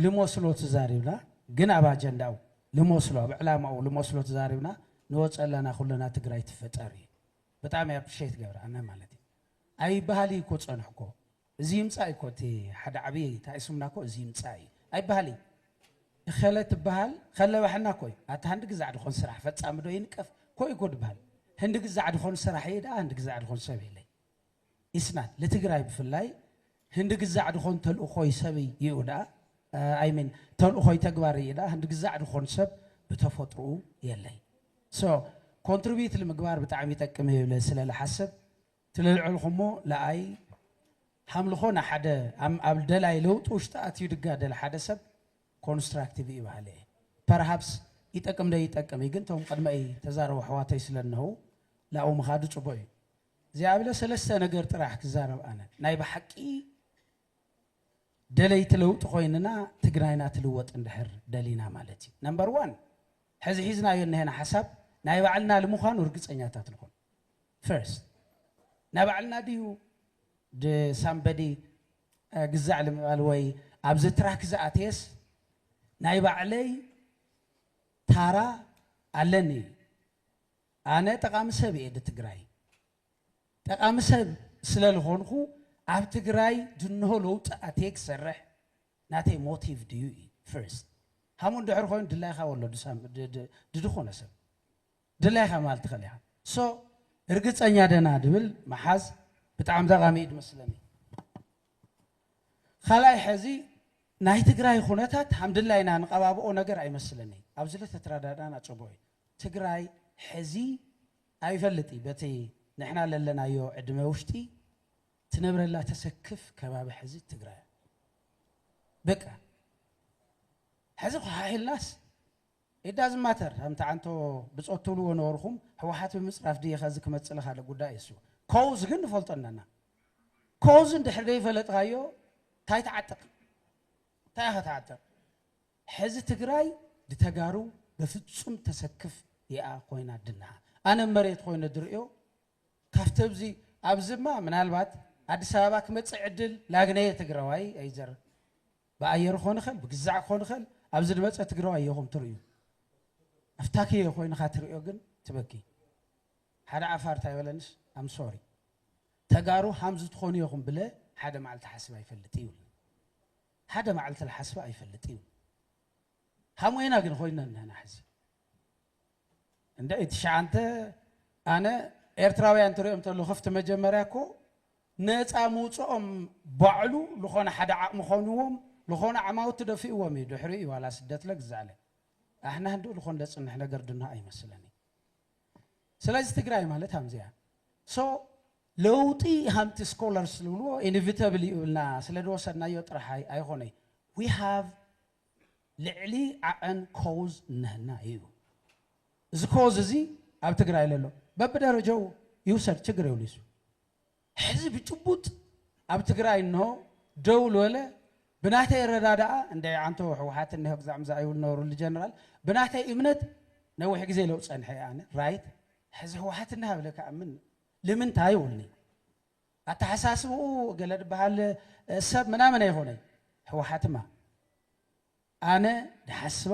ልሞስሎ ትዛሪብና ግን ኣብ ኣጀንዳኡ ልሞስሎ ኣብ ዕላማኡ ልሞስሎ ትዛሪብና ንወፀለና ኩልና ትግራይ ትፍጠር እዩ ብጣዕሚ ኣፕሪሼት ይገብር ኣነ ማለት እዩ ኣይበሃል እዩ እኮ ፀንሑ እኮ እዚ ይምፃእ እኮ እቲ ሓደ ዓብይ ታኢሱምና እኮ እዚ ይምፃእ እዩ ኣይበሃል እዩ እኸለ ትበሃል ከለባሕና እኮ እዩ ኣታ ህንዲ ግዛዕ ድኾን ስራሕ ፈፃሚ ዶ ይንቀፍ ኮይ እኮ ድበሃል ህንዲ ግዛዕ ድኾን ስራሕ እየ ደኣ ህንዲ ግዛዕ ድኾን ሰብ የለይ ኢስናት ልትግራይ ብፍላይ ህንዲ ግዛዕ ድኾን ተልእኾይ ሰብ እዩ ዳኣ ኣይሚን ተልእኾይ ተግባር እዩ ዳኣ ህንዲ ግዛዕ ድኾን ሰብ ብተፈጥሮኡ የለይ ሶ ኮንትሪቢዩት ልምግባር ብጣዕሚ ይጠቅም እዩ ብለ ስለ ልሓስብ ትልልዕልኹሞ ለኣይ ሃምልኾ ንሓደ ኣብ ደላይ ለውጢ ውሽጢ ኣትዩ ድጋደል ሓደ ሰብ ኮንስትራክቲቭ እዩ በሃለ እየ ፐርሃፕስ ይጠቅም ደይጠቅም እዩ ግን ቶም ቅድመይ ተዛረቡ ኣሕዋተይ ስለ እነው ላኡ ምኻዱ ፅቡቅ እዩ ዚያብለ ሰለስተ ነገር ጥራሕ ክዛረብ ኣነ ናይ ብሓቂ ደለይቲ ለውጢ ኮይንና ትግራይና ትልወጥ እንድሕር ደሊና ማለት እዩ ነምበር ዋን ሕዚ ሒዝናዮ እነሄና ሓሳብ ናይ ባዕልና ልምዃኑ እርግፀኛታት ንኹን ፈርስት ናይ ባዕልና ድዩ ሳምበዲ ግዛዕ ልምባል ወይ ኣብዚ ትራክ ዝኣተየስ ናይ ባዕለይ ታራ ኣለኒ ኣነ ጠቃሚ ሰብ እየ ድትግራይ ጠቃሚ ሰብ ስለልኾንኹ ኣብ ትግራይ ድንሆ ለውጢ ኣትየ ክሰርሕ ናተይ ሞቲቭ ድዩ እዩ ፍርስት ሃሙ እንድሕር ኮይኑ ድላይኻ ወሎ ድድኾነ ሰብ ድላይኻ ማለት ትኽእል ኢኻ ሶ እርግፀኛ ደና ድብል መሓዝ ብጣዕሚ ጠቃሚ እዩ ድመስለኒ ካልኣይ ሕዚ ናይ ትግራይ ኩነታት ሃምድላይና ንቀባብኦ ነገር ኣይመስለኒ ኣብዚ ለተትራዳዳና ፅቡቅ እዩ ትግራይ ሕዚ ኣይፈልጥይ በቲ ንሕና ለለናዮ ዕድመ ውሽጢ ትነብረላ ተሰክፍ ከባቢ ሕዚ ትግራይ እያ በቃ ሕዚ ኳሓሒልናስ it doesn't matter ኣምቲ ዓንቶ ብፆት ትብልዎ ነበርኹም ህወሓት ብምፅራፍ ድየ ከዚ ክመፅእ ካለ ጉዳይ እሱ ኮዝ ግን ንፈልጦ ኣለና ኮዝ እንድሕር ዘይፈለጥካዮ እንታይ ትዓጥቕ እንታይ ኢኻ ትዓጥቕ ሐዚ ትግራይ ብተጋሩ በፍፁም ተሰክፍ እያ ኮይና ድንሃ ኣነ መሬት ኮይነ ድርእዮ ካፍቲ እብዚ ኣብዚ እማ ምናልባት ኣዲስ ኣበባ ክመፅእ ዕድል ላግነየ ትግራዋይ ኣይዘር ብኣየር ክኾን ይኽእል ብግዛዕ ክኾን ይኽእል ኣብዚ ድመፀ ትግራዋይ እየኹም ትርእዩ ኣፍታክየ ኮይንኻ ትርእዮ ግን ትበኪ ሓደ ዓፋር እንታይ በለንስ ኣም ሶሪ ተጋሩ ሃምዚ ትኾኑ ኢኹም ብለ ሓደ መዓልቲ ሓስብ ኣይፈልጥ ይብል ሓደ ማዕልቲ ልሓስባ ኣይፈልጥን ሃሞይና ግን ኮይና እንህና ሕዚ እንደ ትሽዓንተ ኣነ ኤርትራውያን ትሪኦም ተሉ ክፍቲ መጀመርያ እኮ ነፃ ምውፅኦም ባዕሉ ዝኾነ ሓደ ዓቕሚ ኾንዎም ዝኾነ ዓማውቲ ደፊእዎም እዩ ድሕሪ እዩ ዋላ ስደት ለግዛዕለ ኣሕና ህንድኡ ልኾን ለፅንሕ ነገር ድና ኣይመስለኒ ስለዚ ትግራይ ማለት ሃምዚ እያ ሶ ለውጢ ሃምቲ ስኮለርስ ዝብልዎ ኢንቪተብል እዩ እልና ስለ ዝወሰድናዮ ጥራሕ ኣይኾነይ ዊ ሃቭ ልዕሊ ዓቐን ኮዝ እነሀና እዩ እዚ ኮዝ እዚ ኣብ ትግራይ ለሎ በብደረጃኡ ይውሰድ ችግር የብሉ ይሱ ሕዚ ብጭቡጥ ኣብ ትግራይ እንሆ ደው ልበለ ብናተይ ኣረዳድኣ እንድዒ ዓንተው ሕወሓት እንሆ ግዛዕ ምዛዕ ይብሉ ነበሩ ልጀነራል ብናተይ እምነት ነዊሕ ግዜ ለው ፀንሐ እየ ኣነ ራይት ሕዚ ሕወሓት እንሃ ብለ ክኣምን ልምንታይ ይብሉኒ ኣተሓሳስብኡ ገለ ድበሃል ሰብ ምናምን ኣይኮነይ ሕወሓትማ ኣነ ድሓስባ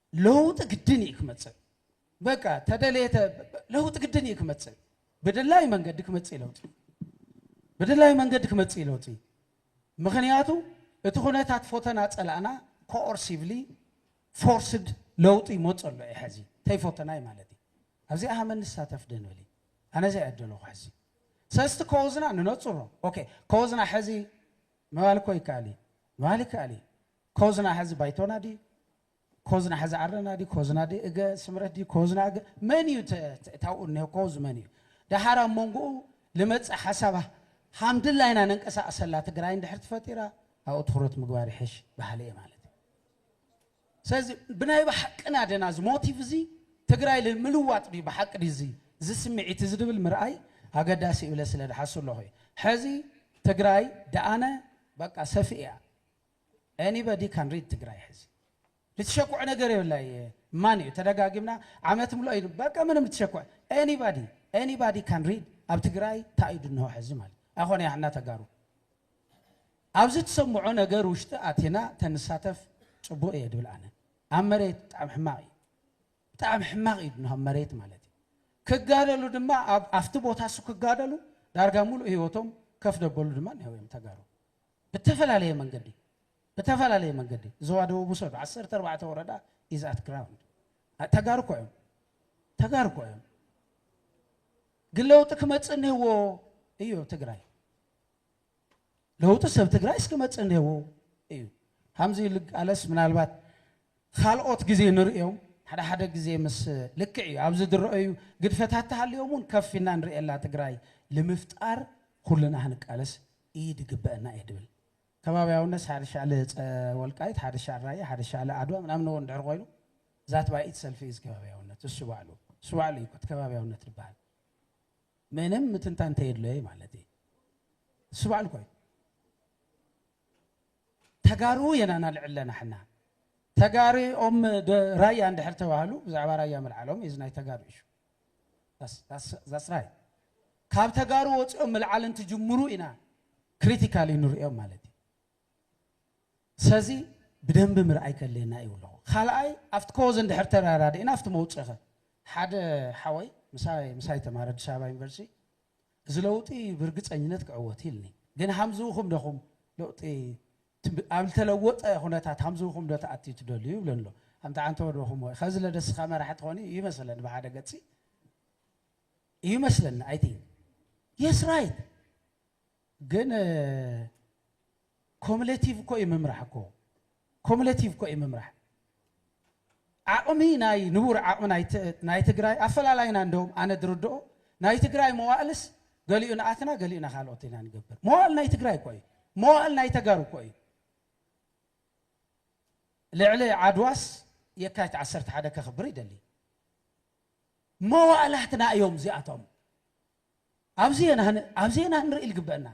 ለውጢ ግድን እዩ ክመፅእ በቃ ተደለየተ ለውጢ ግድን እዩ ክመፅእ ብድላይ መንገዲ ክመፅእ ለውጢ ብድላይ መንገዲ ክመፅእ ለውጢ ምክንያቱ እቲ ኩነታት ፎተና ፀላእና ኮኦርሲቭሊ ፎርስድ ለውጢ ይመፅ ኣሎ እዩ ሕዚ ተይፎተናይ ማለት እዩ ኣብዚ ኣሃመ ንሳተፍ ደንብል ኣነ ዘይዕደለኹ ሕዚ ሰስቲ ከወዝና ንነፅሮ ኦኬ ከወዝና ሕዚ ምባል እኮ ይከኣል እዩ ምባል ይከኣል እዩ ከወዝና ሕዚ ባይቶና ድዩ ኮዝና ሕዚ ኣረና ድዩ ኮዝና ድዩ እገ ስምረት ድዩ ኮዝና እገ መን እዩ ታብኡ እኒሆ ኮዝ መን እዩ ደሓር ኣብ መንጎኡ ልመፅእ ሓሳብ ሃምድላ ኢና ነንቀሳቅሰላ ትግራይ እንድሕር ትፈጢራ ኣብኡ ትኩረት ምግባር ይሕሽ በሃሊ እየ ማለት እዩ ስለዚ ብናይ ብሓቅና ደና እዚ ሞቲቭ እዚ ትግራይ ንምልዋጥ ድዩ ብሓቂ ድዩ እዚ እዚ ስምዒት እዚ ድብል ምርኣይ ኣገዳሲ እብለ ስለ ድሓሱ ኣለኹ እዩ ሕዚ ትግራይ ደኣነ በቃ ሰፊእ እያ Anybody can read ትግራይ ሕዚ ልትሸኩዕ ነገር የብላ እየ ማን እዩ ተደጋጊምና ዓመት ምሎ እዩ በቃ ምንም ልትሸኩዕ Anybody Anybody can read ኣብ ትግራይ ታይ እዩ ድንሆ ሕዚ ማለት ኣይኮነ ያሕና ተጋሩ ኣብዚ ትሰምዖ ነገር ውሽጢ ኣቲና ተንሳተፍ ፅቡቅ እየ ድብል ኣነ ኣብ መሬት ብጣዕሚ ሕማቅ እዩ ብጣዕሚ ሕማቅ እዩ ድንሆ ኣብ መሬት ማለት ክጋደሉ ድማ ኣብቲ ቦታ እሱ ክጋደሉ ዳርጋ ሙሉእ ህይወቶም ከፍ ደበሉ ድማ እኒሀው እዮም ተጋሩ ብተፈላለየ መንገዲ ብተፈላለየ መንገዲ ዞባ ደቡብ ውሰዱ ዓሰርተ ኣርባዕተ ወረዳ ኢዝ ኣት ግራውንድ ተጋሩ እኮ እዮም ተጋሩ እኮ እዮም ግን ለውጢ ክመፅእ እኒህዎ እዩ ኣብ ትግራይ ለውጢ ሰብ ትግራይ እስክመፅእ እኒህዎ እዩ ከምዚ ልቃለስ ምናልባት ካልኦት ግዜ ንርእዮም ሓደ ሓደ ግዜ ምስ ልክዕ እዩ ኣብዚ ዝረአዩ ግድፈታት ተሃልዮም እውን ከፍ ኢና ንርእየላ ትግራይ ንምፍጣር ኩልና ክንቃለስ ኢድ ይግበእና እየ ድብል። ከባብያውነትስ ሓደ ሻዕለ ወልቃይት፣ ሓደ ሻዕ ራያ፣ ሓደ ሻዕለ ዓድዋ ምናምን እዎ እንድሕር ኮይኑ ዛት ባይ ኢት ሰልፊ ኢዝ ከባብያውነት እሱ ባዕሉ እሱ ባዕሉ እዩ እቲ ከባብያውነት ድበሃል ምንም ምትንታ እንተየድለየ ማለት እዩ እሱ ባዕሉ ኮይኑ ተጋሩ የና ናልዕለና ሕና ተጋሪ ኦም ራያ እንድሕር ተባህሉ ብዛዕባ ራያ ምልዓሎም ኢዝ ናይ ተጋሩ ኢሹ That's right ካብ ተጋሩ ወፂኦም ምልዓል እንትጅምሩ ኢና ክሪቲካሊ ንሪኦም ማለት እዩ ሰዚ ብደንቢ ምርኣይ ከድልየና እዩ ኣለኹ ካልኣይ ኣብቲ ኮዝ እንድሕር ተራዳዲእና ኣብቲ መውፅኸ ሓደ ሓወይ ምሳይ ምሳይ ተማረ ኣዲስ ኣበባ ዩኒቨርሲቲ እዚ ለውጢ ብርግፀኝነት ክዕወት ኢልኒ ግን ሃምዝውኹም ደኹም ለውጢ ኣብ ልተለወጠ ኩነታት ሃምዝኹም ዶ ትኣትዩ ትደልዩ ይብሎ ኣሎ ኣንታ ዓንተወ ዶ ኹምወ ኸዚ ለደስኻ መራሒ ትኾኑ እዩ ይመስለኒ ብሓደ ገጺ እዩ መስለኒ ኣይ ቲንክ የስ ራይት ግን ኮሙሌቲቭ እኮ እዩ ምምራሕ እኮ ኮሙሌቲቭ እኮ እዩ ምምራሕ ዓቕሚ ናይ ንቡር ዓቕሚ ናይ ትግራይ ኣፈላላይና እንደውም ኣነ ዝርድኦ ናይ ትግራይ መዋእልስ ገሊኡ ንኣትና ገሊኡ ናካልኦት ኢና ንገብር መዋእል ናይ ትግራይ እኮ እዩ መዋእል ናይ ተጋሩ እኮ እዩ ልዕሊ ዓድዋስ የካቲት ዓሰርተ ሓደ ከኽብር ይደሊ መዋእላትና እዮም እዚኣቶም ኣብዚ ኢና ኣብዚ ኢና ክንርኢ ዝግበእና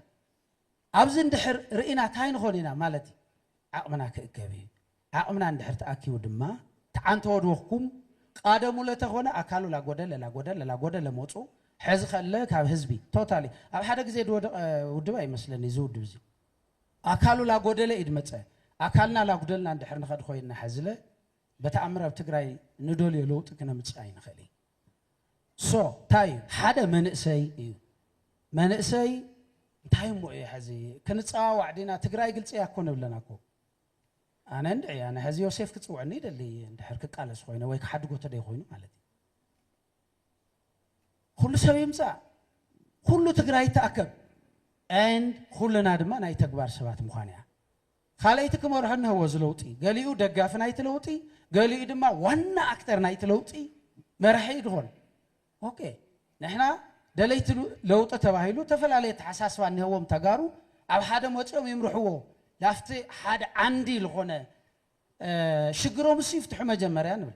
ኣብዚ እንድሕር ርኢና ታይ ንኾን ኢና ማለት እዩ ዓቕምና ክእከብ እዩ ዓቕምና እንድሕር ተኣኪቡ ድማ ትዓን ተወድውኽኩም ቃደሙ ለተኾነ ኣካሉ ላጎደለ ላጎደለ ላጎደለ ሞጹ ሕዚ ከለ ካብ ህዝቢ ቶታሊ ኣብ ሓደ ግዜ ዝወደቐ ውድብ ኣይመስለኒ እዚ ውድብ እዚ ኣካሉ ላጎደለ እዩ ድመጸ ኣካልና ላጉደልና እንድሕር ንኸድ ኮይና ሕዝለ በተኣምር ኣብ ትግራይ ንደልዮ ለውጢ ክነምጽእ ኣይንኽእል so ታይ እዩ ሓደ መንእሰይ እዩ መንእሰይ እንታይ እሞ እየ ሕዚ ክንፀዋዋዕ ዲና ትግራይ ግልፂ እያ እኮ ንብለና እኮ ኣነ እንድዒ ኣነ ሕዚ ዮሴፍ ክፅውዕኒ ይደሊ እንድሕር ክቃለስ ኮይነ ወይ ክሓድጎ ተደይ ኮይኑ ማለት እዩ ኩሉ ሰብ ይምፃእ ኩሉ ትግራይ ይተኣከብ ኤንድ ኩልና ድማ ናይ ተግባር ሰባት ምዃን እያ ካልኣይቲ ክመርሖ እነሀዎ እዚ ለውጢ። ገሊኡ ደጋፊ ናይቲ ለውጢ፣ ገሊኡ ድማ ዋና ኣክተር ናይቲ ለውጢ መራሒ እዩ ድኾን። ኦኬ ንሕና ደለይቲ ለውጢ ተባሂሉ ተፈላለየ ኣተሓሳስባ እነሀዎም ተጋሩ ኣብ ሓደ መፂኦም ይምርሕዎ ላፍቲ ሓደ ዓንዲ ልኾነ ሽግሮም እሱ ይፍትሑ መጀመርያ ንብል።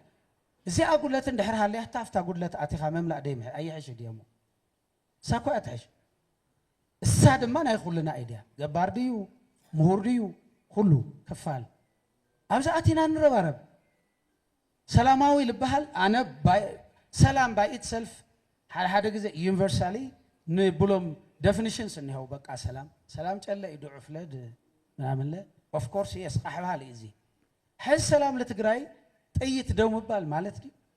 እዚኣ ጉድለት እንድሕር ሃልያታ ኣብታ ጉድለት ኣቲኻ ምምላእ ደይምሕ ኣይሕሽ ድዮሞ? እሳ እኮ እያ ትሕሽ እሳ ድማ ናይ ኩልና እድያ ገባር ድዩ ምሁር ድዩ ኩሉ ክፋል ኣብዚ ኣቲና ንረባረብ ሰላማዊ ልበሃል ኣነ ሰላም ባይ ኢት ሰልፍ ሓደ ሓደ ግዜ ዩኒቨርሳሊ ንብሎም ደፊኒሽንስ እኒሀው በቃ ሰላም ሰላም ጨለ እዩ ድዑፍለ ምናምንለ ኦፍኮርስ የስ ቃሕባሃል እዩ እዚ ሕዚ ሰላም ለትግራይ ጥይት ደው ምባል ማለት ድዩ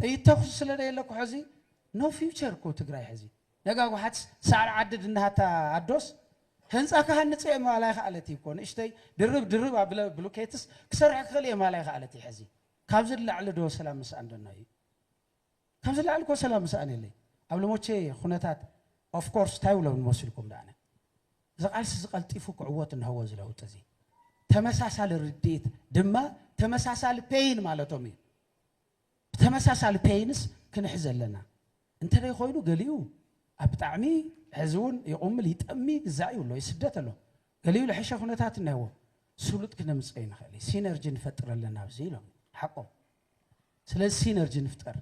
ጥይት ተኩሲ ስለደየለ እኮ ሐዚ no future እኮ ትግራይ ሐዚ ነጋ ጓሓት ሳዕሪ ዓዲ ድንሃታ ኣዶስ ህንፃ ክሃንፅ እየ ምባል ኣይኸኣለት እዩ እኮ ንእሽተይ ድርብ ድርብ ኣብለ ብሉኬትስ ክሰርሕ ክኽእል እየ ምባል ኣይኸኣለት እዩ ሐዚ ካብዚ ንላዕሊ ዶ ሰላም ምስኣን ዶ እኖዩ ካብዚ ንላዕሊ እኮ ሰላም ምስኣን የለይ ኣብ ልሞቼ ኩነታት ኦፍ ኮርስ እንታይ ውለብ ንመስልኩም ዳኣነ እዚ ቃልሲ እዚ ቀልጢፉ ክዕወት እንሀዎ እዚ ለውጢ እዚ ተመሳሳሊ ርድኢት ድማ ተመሳሳሊ ፔይን ማለቶም እዩ ብተመሳሳሊ ፔይንስ ክንሕዝ ኣለና እንተደይ ኮይኑ ገሊኡ ኣብ ብጣዕሚ ሕዚ እውን ይቑምል ይጠሚ ግዛእ እዩ ኣሎ ይስደት ኣሎ ገሊኡ ልሕሸ ኩነታት እነዎ ስሉጥ ክነምፀ ይንኽእል እዩ ሲነርጂ ንፈጥር ኣለና ኣብዚ ኢሎም ሓቆም ስለዚ ሲነርጂ ንፍጠር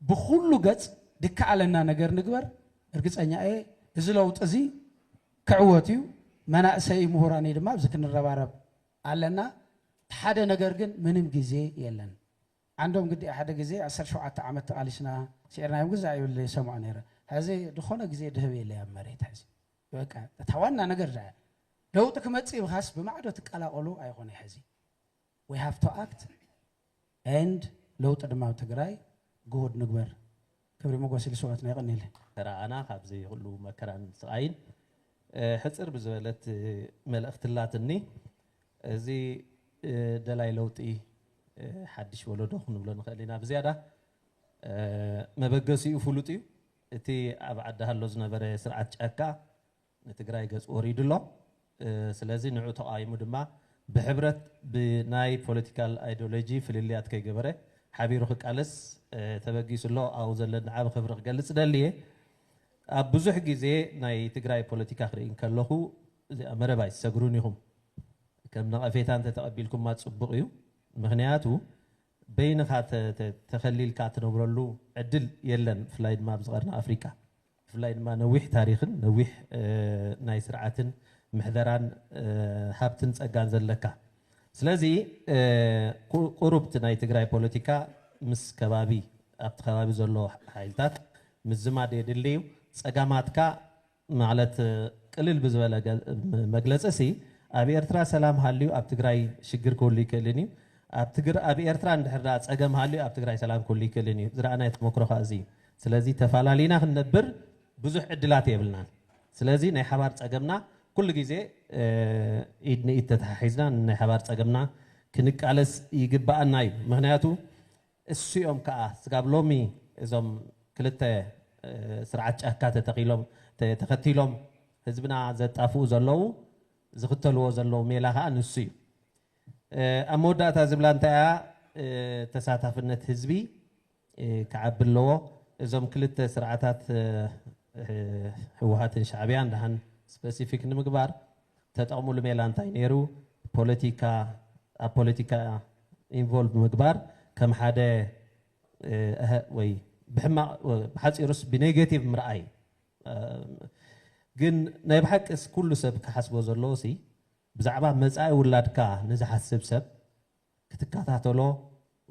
ብኹሉ ገፅ ድከኣለና ነገር ንግበር እርግፀኛ እየ እዚ ለውጢ እዚ ክዕወት እዩ መናእሰይ ምሁራንይ ድማ ኣብዚ ክንረባረብ ኣለና ሓደ ነገር ግን ምንም ግዜ የለን ዓንዶም ግዲ ሓደ ግዜ ዓሰርተ ሸውዓተ ዓመት ተቓሊስና ስዒርናዮም ግዛዕ ይብል ይሰምዖ ነይረ ሕዚ ዝኾነ ግዜ ድህብ የለ ኣብ መሬት ሕዚ በቃ እታ ዋና ነገር ለውጢ ክመፅእ ብኻስ ብማዕዶ ትቀላቐሉ ኣይኾነ ሕዚ We have to act and ለውጢ ድማ ኣብ ትግራይ ግሁድ ንግበር። ክብሪ ሞጎስ ልስውኣትና የቀንየለይ። ተራኣና ካብዚ ኩሉ መከራን ስቃይን ሕጽር ብዝበለት መልእክቲ ኣላትኒ እዚ ደላይ ለውጢ ሓድሽ ወለዶ ክንብሎ ንክእል ኢና ብዝያዳ መበገሲኡ ፍሉጥ እዩ እቲ ኣብ ዓዲ ሃሎ ዝነበረ ስርዓት ጫካ ንትግራይ ገፁ ወሪዱ ኣሎ ስለዚ ንዑ ተቃዊሙ ድማ ብሕብረት ብናይ ፖለቲካል ኣይዶሎጂ ፍልልያት ከይገበረ ሓቢሩ ክቃለስ ተበጊሱ ኣሎ ኣብኡ ዘለኒ ዓቢ ክብሪ ክገልፅ እደሊ እየ ኣብ ብዙሕ ግዜ ናይ ትግራይ ፖለቲካ ክርኢ እንከለኹ እዚኣ መረብ ኣይትሰግሩን ኢኹም ከም ነቐፌታ እንተተቐቢልኩማ ፅቡቕ እዩ ምክንያቱ በይንኻ ተኸሊልካ ትነብረሉ ዕድል የለን ብፍላይ ድማ ኣብዚ ቀርኒ ኣፍሪቃ ብፍላይ ድማ ነዊሕ ታሪኽን ነዊሕ ናይ ስርዓትን ምሕደራን ሃብትን ጸጋን ዘለካ ስለዚ ቁሩብቲ ናይ ትግራይ ፖለቲካ ምስ ከባቢ ኣብቲ ከባቢ ዘሎ ሓይልታት ምዝማድ የድሊ እዩ። ጸጋማትካ ማለት ቅልል ብዝበለ መግለጺሲ ኣብ ኤርትራ ሰላም ሃልዩ ኣብ ትግራይ ሽግር ክህሉ ኣይክእልን እዩ። ኣብ ኤርትራ እንድሕር ደኣ ጸገም ሃልዩ ኣብ ትግራይ ሰላም ክህሉ ኣይክእልን እዩ። ዝረኣናዮ ተመክሮ ከኣ እዚ እዩ። ስለዚ ተፋላሊና ክንነብር ብዙሕ ዕድላት የብልናን። ስለዚ ናይ ሓባር ጸገምና ኩሉ ግዜ ኢድ ንኢድ ተተሓሒዝና ንናይ ሓባር ጸገምና ክንቃለስ ይግበኣና እዩ። ምክንያቱ እሱኦም ከኣ ስጋብ ሎሚ እዞም ክልተ ስርዓት ጫካ ተተኺሎም ተኸቲሎም ህዝብና ዘጣፍኡ ዘለዉ ዝኽተልዎ ዘለዉ ሜላ ከኣ ንሱ እዩ። ኣብ መወዳእታ ዝብላ እንታይ እያ ተሳታፍነት ህዝቢ ክዓቢ ኣለዎ። እዞም ክልተ ስርዓታት ህወሓትን ሻዕቢያን ደሓን ስፐሲፊክ ንምግባር ተጠቕምሉ ሜላ እንታይ ነይሩ? ፖለቲካ ኣብ ፖለቲካ ኢንቮልቭ ምግባር ከም ሓደ እህ ወይ ብሕማቕ ብሓፂሩስ ብኔጌቲቭ ምርኣይ ግን ናይ ብሓቂስ ኩሉ ሰብ ክሓስቦ ዘለዎ ሲ ብዛዕባ መፃኢ ውላድካ ንዝሓስብ ሰብ ክትከታተሎ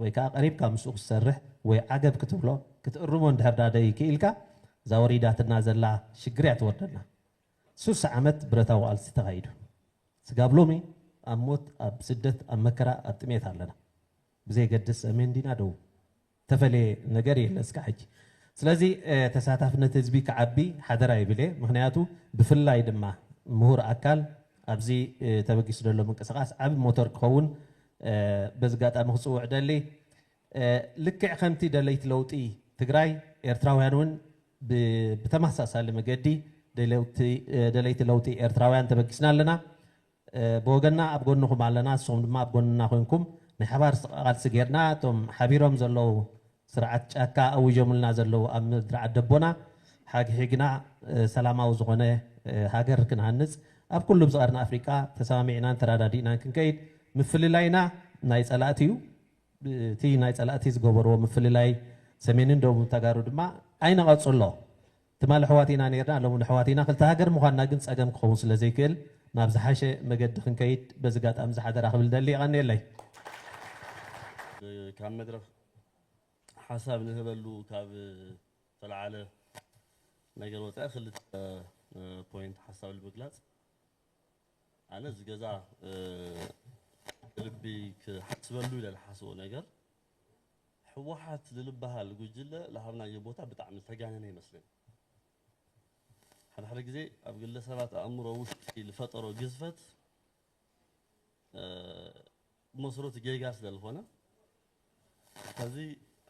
ወይ ከኣ ቀሪብካ ምስኡ ክትሰርሕ ወይ ዓገብ ክትብሎ ክትእርሞ እንድሕር ደኣ ደይክኢልካ እዛ ወሪዳትና ዘላ ሽግር እያ ትወርደና። ሱሳ ዓመት ብረታዊ ቃልሲ ተኻይዱ ስጋብ ሎሚ ኣብ ሞት ኣብ ስደት ኣብ መከራ ኣብ ጥሜት ኣለና ብዘይገድስ ሰሜን ዲና ደቡብ። ዝተፈለየ ነገር የለ እስካዕ ሕጂ። ስለዚ ተሳታፍነት ህዝቢ ክዓቢ ሓደራ ይብል እየ። ምኽንያቱ ብፍላይ ድማ ምሁር ኣካል ኣብዚ ተበጊሱ ዘሎ ምንቅስቓስ ዓቢ ሞተር ክኸውን በዚ ኣጋጣሚ ክጽውዕ እደሊ። ልክዕ ከምቲ ደለይቲ ለውጢ ትግራይ ኤርትራውያን እውን ብተመሳሳሊ መገዲ ደለይቲ ለውጢ ኤርትራውያን ተበጊስና ኣለና። ብወገንና ኣብ ጎንኹም ኣለና ንስኹም ድማ ኣብ ጎንና ኮንኩም ናይ ሓባር ቃልሲ ጌርና እቶም ሓቢሮም ዘለዉ ስርዓት ጫካ ኣዊጆምልና ዘለዉ ኣብ ምድሪ ዓደቦና ሓግሒግና ሰላማዊ ዝኾነ ሃገር ክንሃንጽ ኣብ ኩሉ ኣብዚ ቀርኒ ኣፍሪቃ ተሰማሚዕናን ተራዳዲእናን ክንከይድ ምፍልላይና ናይ ጸላእቲ እዩ እቲ ናይ ጸላእቲ ዝገበርዎ ምፍልላይ ሰሜንን ደቡብ ተጋሩ ድማ ኣይንቐጽሎ። ትማል ኣሕዋት ኢና ኔርና ሎሚ ኣሕዋት ኢና ክልተ ሃገር ምዃንና ግን ጸገም ክኸውን ስለ ዘይክእል ናብ ዝሓሸ መገዲ ክንከይድ በዚ ኣጋጣሚ እዚ ሓደራ ክብል እደሊ የቀንየለይ። ካብ መድረኽ ሓሳብ ንህበሉ ካብ ዝተልዓለ ነገር ወፃኢ ክልተ ፖይንት ሓሳብ ንምግላፅ ኣነ እዚ ገዛ ብልቢ ክሓስበሉ ኢለ ዝሓስቦ ነገር ህወሓት ልልበሃል ጉጅለ ልሃብናዮ ቦታ ብጣዕሚ ዝተጋነነ ይመስለኒ። ሓደ ሓደ ግዜ ኣብ ግለ ሰባት ኣእምሮ ውሽጢ ልፈጠሮ ግዝፈት ብመስረቱ ጌጋ ስለ ልኾነ ኸዚ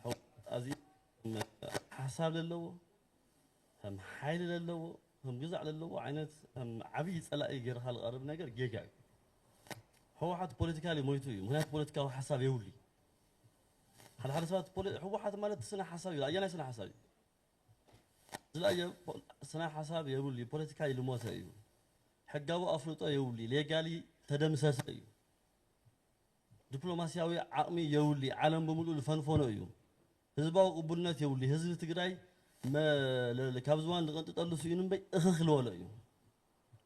ህወሓት ኣዚዩ ሓሳብ ለለዎ፣ ከም ሓይሊ ለለዎ ከም ግዛዕ ለለዎ ዓይነት ከም ዓብይ ፀላኢ ገይርኻ ልቐርብ ነገር ጌጋ እዩ። ህወሓት ፖለቲካሊ ሞይቱ እዩ ምክንያቱ ፖለቲካዊ ሓሳብ የብሉይ። ሓደ ሓደ ሰባት ፖለ ህወሓት ማለት ስነ ሓሳብ እዩ ኣየናይ ስነ ሓሳብ እዩ ዝለኣየ ስነ ሓሳብ የብሉይ ፖለቲካሊ ልሞተ እዩ ሕጋዊ ኣፍልጦ የብሉይ ሌጋሊ ተደምሰሰ እዩ ዲፕሎማሲያዊ ዓቕሚ የብሉይ ዓለም ብምሉእ ልፈንፈኖ እዩ ህዝባዊ ቅቡልነት የብሉይ ህዝቢ ትግራይ መለል ካብ ዝባን ዝቐንጥጠሉ ስኢኑ እምበይ እኽኽ ልበሎ እዩ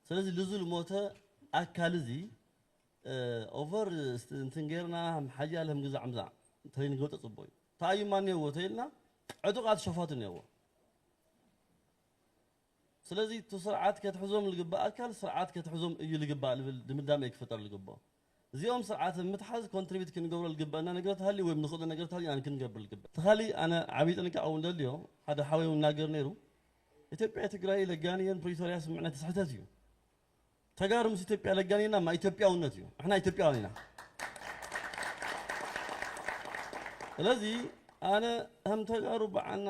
ስለዚ ልዙ ልሞተ ኣካል እዚ ኦቨር እንትን ጌርና ሓያል ህምግዛዕ ምዛዕ እንተይንገብጦ ፅቡቕ እዩ ተኣዩማ እኒኦዎ ተይልና ዕጡቓት ሸፋቱ እኒኦዎ ስለዚ እቱ ስርዓት ከትሕዞም ልግባእ ኣካል ስርዓት ከትሕዞም እዩ ልግባእ ልብል ድምዳመ እዩ ክፍጠር ልግበኦ። እዚኦም ስርዓት እብ ምትሓዝ ኮንትሪቢት ክንገብሮ ልግበእና ነገርት ሃልዩ ወይ ንክእሎ ነገርት ሃልዩ ኣን ክንገብር ልግበእ። እቲ ካሊእ ኣነ ዓብይ ጥንቃቀ እውን ደልዮ ሓደ ሓወይ እውን ናገር ነይሩ ኢትዮጵያ ትግራይ ለጋንየን ፕሪቶርያ ስምምዕነት ስሕተት እዩ። ተጋሩ ምስ ኢትዮጵያ ለጋንየና እማ ኢትዮጵያውነት እዩ። ንሕና ኢትዮጵያውያን ኢና። ስለዚ ኣነ ከም ተጋሩ ባዓልና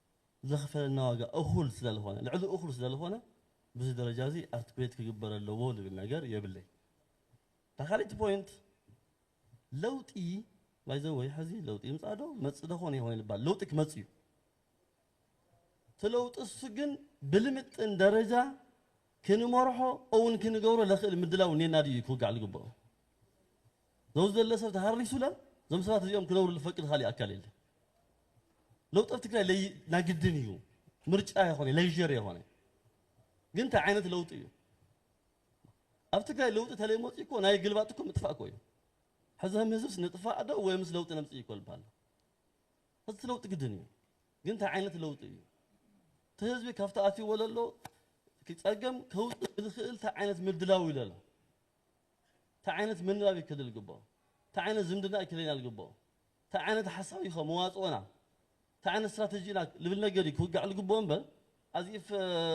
ዘኽፈለና ዋጋ እኹል ስለልኾነ ልዕሊ እኹል ስለልኾነ ብዚ ደረጃ እዚ ኣርትኩዌት ክግበር ኣለዎ ዝብል ነገር የብለይ እታ ካልእቲ ፖይንት ለውጢ ባይዘወይ ሕዚ ለውጢ ይምፃእ ዶ መፅእ ዶ ኮነ ይኸውን ይባል ለውጢ ክመፅ እዩ እቲ ለውጢ እሱ ግን ብልምጥን ደረጃ ክንመርሖ እውን ክንገብሮ ለኽእል ምድላው እኔና ድዩ ክውጋዕ ዝግብኦ ዶብ ዘለ ሰብ ተሃሪሱላ ዞም ሰባት እዚኦም ክነብሩ ልፈቅድ ካሊእ ኣካል የለ ለውጢ ኣብ ትግራይ ለይ ናግድን እዩ ምርጫ የኾነ ለይዠር የኾነ ግን እንታይ ዓይነት ለውጢ እዩ ኣብ ትግራይ ለውጢ ተለይ መፂ እኮ ናይ ግልባጥ እኮ ምጥፋእ እኮ እዩ ሕዚ ከም ህዝብስ ንጥፋእ ዶ ወይ ምስ ለውጢ ነምፅእ እኮ ልበሃል ሕዚ ለውጢ ግድን እዩ ግን እንታይ ዓይነት ለውጢ እዩ እቲ ህዝቢ ካብቲ ኣትይዎ ዘሎ ክፀገም ከውፅእ ዝኽእል እንታይ ዓይነት ምድላው ኢሉ ኣሎ ታይ ዓይነት ምንባብ እዩ ክልል ግቦ? ታይ ዓይነት ዝምድና እዩ ክለይናል ግቦ? ታይ ዓይነት ሓሳብ እዩ ከ መዋፅኦና? ታይ ዓይነት ስትራተጂ ኢና ልብል ነገር እዩ ክውጋዕ ልግብኦ እምበር ኣዚኢፍ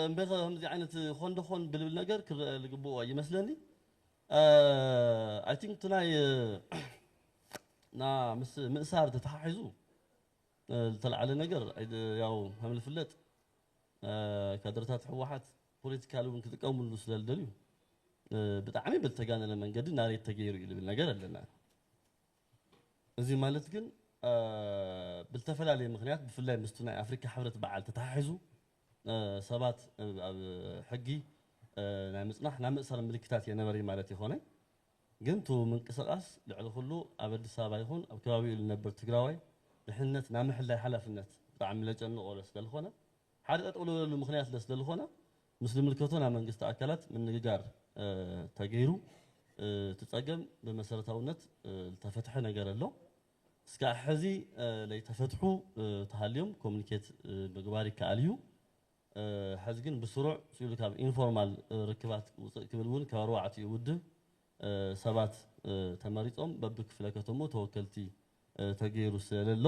እምበይከ ከምዚ ዓይነት ኾን ዶ ኾን ብልብል ነገር ክረኣ ልግብኦ ኣይመስለኒ ኣይ ቲንክ እቲ ናይ እና ምስ ምእሳር ተተሓሒዙ ልተልዓለ ነገር ያው ከምልፍለጥ ካድረታት ህወሓት ፖለቲካሊ እውን ክጥቀምሉ ስለ ዝደልዩ ብጣዕሚ ብዝተጋነነ መንገዲ ናሬት ተገይሩ እዩ ዝብል ነገር ኣለና። እዚ ማለት ግን ብዝተፈላለየ ምክንያት ብፍላይ ምስቲ ናይ ኣፍሪካ ሕብረት በዓል ተተሓሒዙ ሰባት ኣብ ሕጊ ናይ ምፅናሕ ናይ ምእሰር ምልክታት የነበረ ማለት ይኾነ ግን ቱ ምንቅስቃስ ልዕሊ ኩሉ ኣብ ኣዲስ ኣበባ ይኹን ኣብ ከባቢኡ ዝነብር ትግራዋይ ድሕንነት ናይ ምሕላይ ሓላፍነት ብጣዕሚ ለጨንቆ ስለዝኾነ ሓደ ጠጠው ልብለሉ ምኽንያት ስለ ስለልኾነ ምስ ልምልከቶ ናይ መንግስቲ ኣካላት ምንግጋር ተገይሩ እቲ ፀገም ብመሰረታውነት ልተፈትሐ ነገር ኣሎ እስካዕ ሐዚ ለይተፈትሑ ተሃልዮም ኮሙኒኬት ምግባር ይከኣል እዩ ሐዚ ግን ብስሩዕ ስኢሉ ካብ ኢንፎርማል ርክባት ውፅእ ክብል እውን ካብ ኣርባዕቲኡ ውድብ ሰባት ተመሪፆም በብክፍለከተምኡ ተወከልቲ ተገይሩ ስለለሎ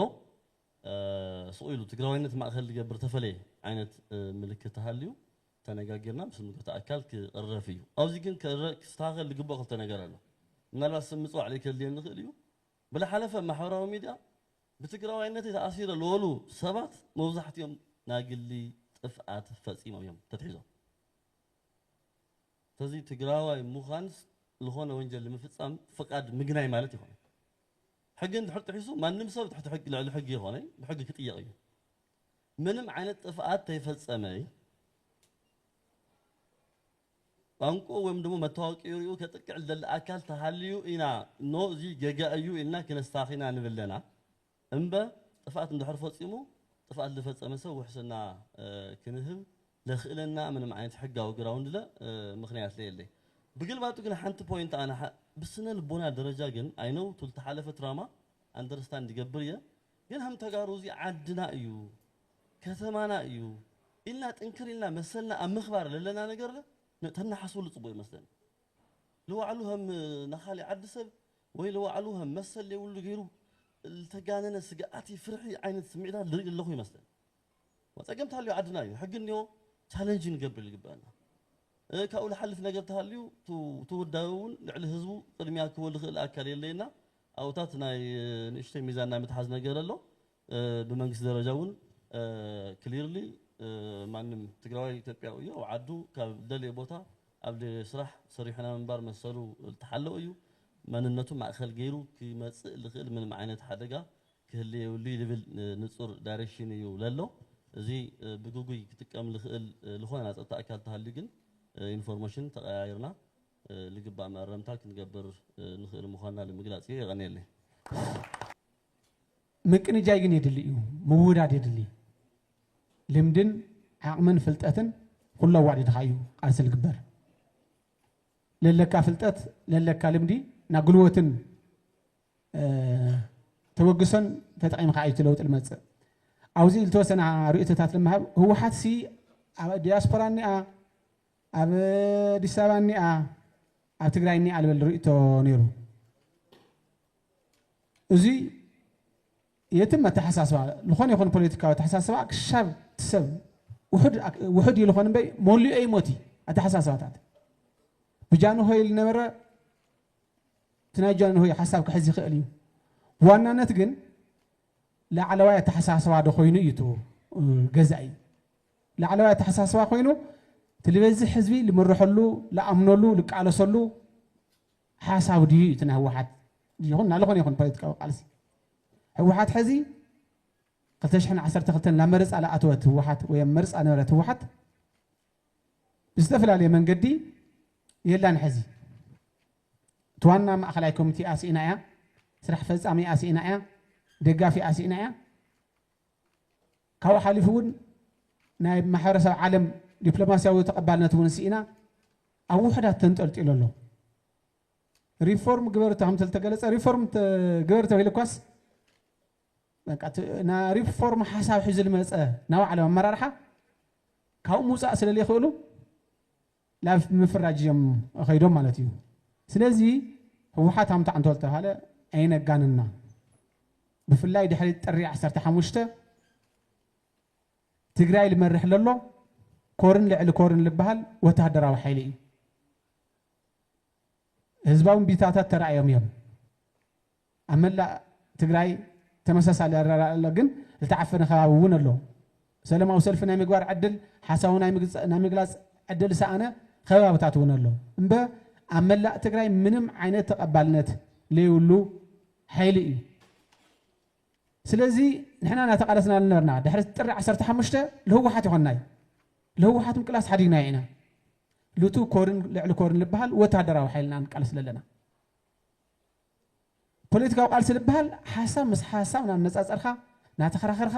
ስቕ ኢሉ ትግራዋይነት ማእኸል ዝገብር ተፈለየ ዓይነት ምልክት ተሃልዩ ተነጋጊርና ምስ ዝምልከቶ ኣካል ክቕረፍ እዩ። ኣብዚ ግን ክስተኻኸል ዝግበኦ ክልተ ነገር ኣሎ። ምናልባት ስም ምፅዋዕ ለይከድልየኒ ይኽእል እዩ። ብለሓለፈ ኣብ ማሕበራዊ ሚድያ ብትግራዋይነተይ ተኣሲረ ልበሉ ሰባት መብዛሕቲኦም ናይ ግሊ ጥፍኣት ፈፂሞም እዮም ተትሒዞም። ሰለዚ ትግራዋይ ምዃን ልኾነ ወንጀል ንምፍፃም ፍቓድ ምግናይ ማለት ኣይኮነን። ሕጊ እንድሕር ጥሒሱ ማንም ሰብ ትሕቲ ሕጊ ልዕሊ ሕጊ ይኾነይ ብሕጊ ክጥየቕ እዩ ምንም ዓይነት ጥፍኣት ተይፈጸመይ ቋንቁ ወይም ድሞ መታወቂኡ ሪኡ ከጥቅዕ ልደሊ ኣካል ተሃልዩ ኢና ኖ እዚ ገጋ እዩ ኢልና ክነስታኺና ንብለና እምበ ጥፍኣት እንድሕር ፈጺሙ ጥፍኣት ልፈጸመ ሰብ ውሕስና ክንህብ ለክእለና ምንም ዓይነት ሕጋዊ ግራውንድ ለ ምክንያት ለየለይ ብግልባጡ ግን ሓንቲ ፖይንት ኣነ ብስነ ልቦና ደረጃ ግን ኣይ ኖው ቱል ተሓለፈ ትራማ ኣንደርስታንድ ይገብር እየ ግን ሀም ተጋሩ እዚ ዓድና እዩ ከተማና እዩ ኢልና ጥንክር ኢልና መሰልና ኣብ ምክባር ለለና ነገር ለ ተናሓስበሉ ፅቡቅ ይመስለኒ ልዋዕሉ ሀም ናካሊእ ዓዲ ሰብ ወይ ልዋዕሉ ሀም መሰል ለይብሉ ገይሩ ልተጋነነ ስግኣቲ ፍርሒ ዓይነት ስምዒታት ልርኢ ለለኩ ይመስለኒ ጸገም ተሃልዩ ዓድና እዩ ሕጊ እኒኦ ቻለንጅ ንገብር ይግበኣና ካብኡ ልሓልፍ ነገር ተሃልዩ እቲ ውዳበ እውን ልዕሊ ህዝቡ ቅድሚያ ክህቦ ልኽእል ኣካል የለየና ኣብኡታት ናይ ንእሽተይ ሚዛን ናይ ምትሓዝ ነገር ኣሎ ብመንግስቲ ደረጃ እውን ክሊርሊ ማንም ትግራዋይ ኢትዮጵያዊ እዩ ኣብ ዓዱ ካብ ደልየ ቦታ ኣብ ደልየ ስራሕ ሰሪሑ ናይ ምንባር መሰሉ ዝተሓለወ እዩ መንነቱ ማእኸል ገይሩ ክመፅእ ልኽእል ምንም ዓይነት ሓደጋ ክህሊ የብሉይ ልብል ንጹር ዳይረክሽን ኢዩ ለሎ። እዚ ብግጉይ ክጥቀም ልኽእል ልኾነ ናይ ጸጥታ ኣካል ተሃልዩ ግን ኢንፎርሞሽን ተቐያይርና ልግባእ መኣረምታ ክንገብር ንኽእል ምዃንና ልምግላጽ ኢዩ። የቐንየለይ። ምቅንጃይ ግን የድሊ እዩ ምውዳድ የድሊ ልምድን ዓቅምን ፍልጠትን ኩሉ ኣዋዲድኻ እዩ ቃልሲ ልግበር ለለካ ፍልጠት ለለካ ልምዲ ናጉልወትን ተበግሶን ተጠቒምካ እዩ እቲ ለውጢ ልመፅእ። ኣብዚ ልተወሰነ ርእቶታት ልመሃብ። ህወሓት ሲ ኣብ ዲያስፖራ እኒኣ፣ ኣብ ኣዲስ ኣበባ እኒኣ፣ ኣብ ትግራይ እኒኣ ልበል ርእቶ ነይሩ። እዚ የትም ኣተሓሳስባ ዝኾነ ይኹን ፖለቲካዊ ኣተሓሳስባ ክሻብ እቲ ሰብ ውሑድ እዩ ዝኾን እምበይ መሊኦ ይሞት እዩ ኣተሓሳስባታት ብጃንሆይ ልነበረ እቲ ናይ ጃንሆይ ሓሳብ ክሕዝ ይኽእል እዩ። ብዋናነት ግን ላዕለዋይ ኣተሓሳስባ ዶ ኮይኑ እዩ እቱ ገዛኢ ላዕለዋይ ኣተሓሳስባ ኮይኑ እቲ ልበዝሕ ህዝቢ ልምርሐሉ ልኣምነሉ ልቃለሰሉ ሓሳብ ድዩ እዩ እቲ ናይ ህወሓት ይኹን ናልኾነ ይኹን ፖለቲካዊ ቃልሲ ህወሓት ሕዚ 212 ናብ መረፃ ልኣተወት ህወሓት ወይ ኣብ መርፃ ነበረት ህወሓት ብዝተፈላለየ መንገዲ የላን ሐዚ እቲ ዋና ማእኸላይ ኮሚቴኣ ስኢና እያ፣ ስራሕ ፈፃሚኣ ስኢና እያ፣ ደጋፊኣ ስኢና እያ። ካብኡ ሓሊፉ እውን ናይ ማሕበረሰብ ዓለም ዲፕሎማሲያዊ ተቐባልነት እውን ስኢና ኣብ ውሕዳት ተንጠልጢሉ ኣሎ። ሪፎርም ግበር ከም ዝተገለፀ ሪፎርም ግበር ተባሂሉ እኳስ በቃ እቲ ናይ ሪፎርም ሓሳብ ሒዙ ዝመፀ ናይ ባዕሎም ኣመራርሓ ካብኡ ምውፃእ ስለ ዘይክእሉ ላብ ምፍራጅ እዮም ከይዶም ማለት እዩ። ስለዚ ህወሓት ሃምታ እንተ ዝተባሃለ ኣይነጋንና። ብፍላይ ድሕሪ ጥሪ ዓሰርተ ሓሙሽተ ትግራይ ልመርሕ ለሎ ኮርን ልዕሊ ኮርን ልበሃል ወተሃደራዊ ሓይሊ እዩ። ህዝባዊ እምቢታታት ተራእዮም እዮም። ኣብ መላእ ትግራይ ተመሳሳሊ ኣረኣእያ ኣሎ ግን ዝተዓፈነ ከባቢ እውን ኣሎ። ሰለማዊ ሰልፊ ናይ ምግባር ዕድል፣ ሓሳቡ ናይ ምግላፅ ዕድል ዝሰኣነ ከባብታት እውን ኣሎ። እምበ ኣብ መላእ ትግራይ ምንም ዓይነት ተቐባልነት ለይብሉ ሓይሊ እዩ። ስለዚ ንሕና እናተቓለስና ልነበርና ድሕሪ ጥሪ ዓሰርተ ሓሙሽተ ልህወሓት ይኾንናይ ልህወሓት ምቅላስ ሓዲግናዮ ኢና። ልቱ ኮርን ልዕሊ ኮርን ልበሃል ወታደራዊ ሓይልና ንቃለስ ለለና። ፖለቲካዊ ቃልሲ ልበሃል ሓሳብ ምስ ሓሳብ ናነጻጸርካ ናተኸራኸርካ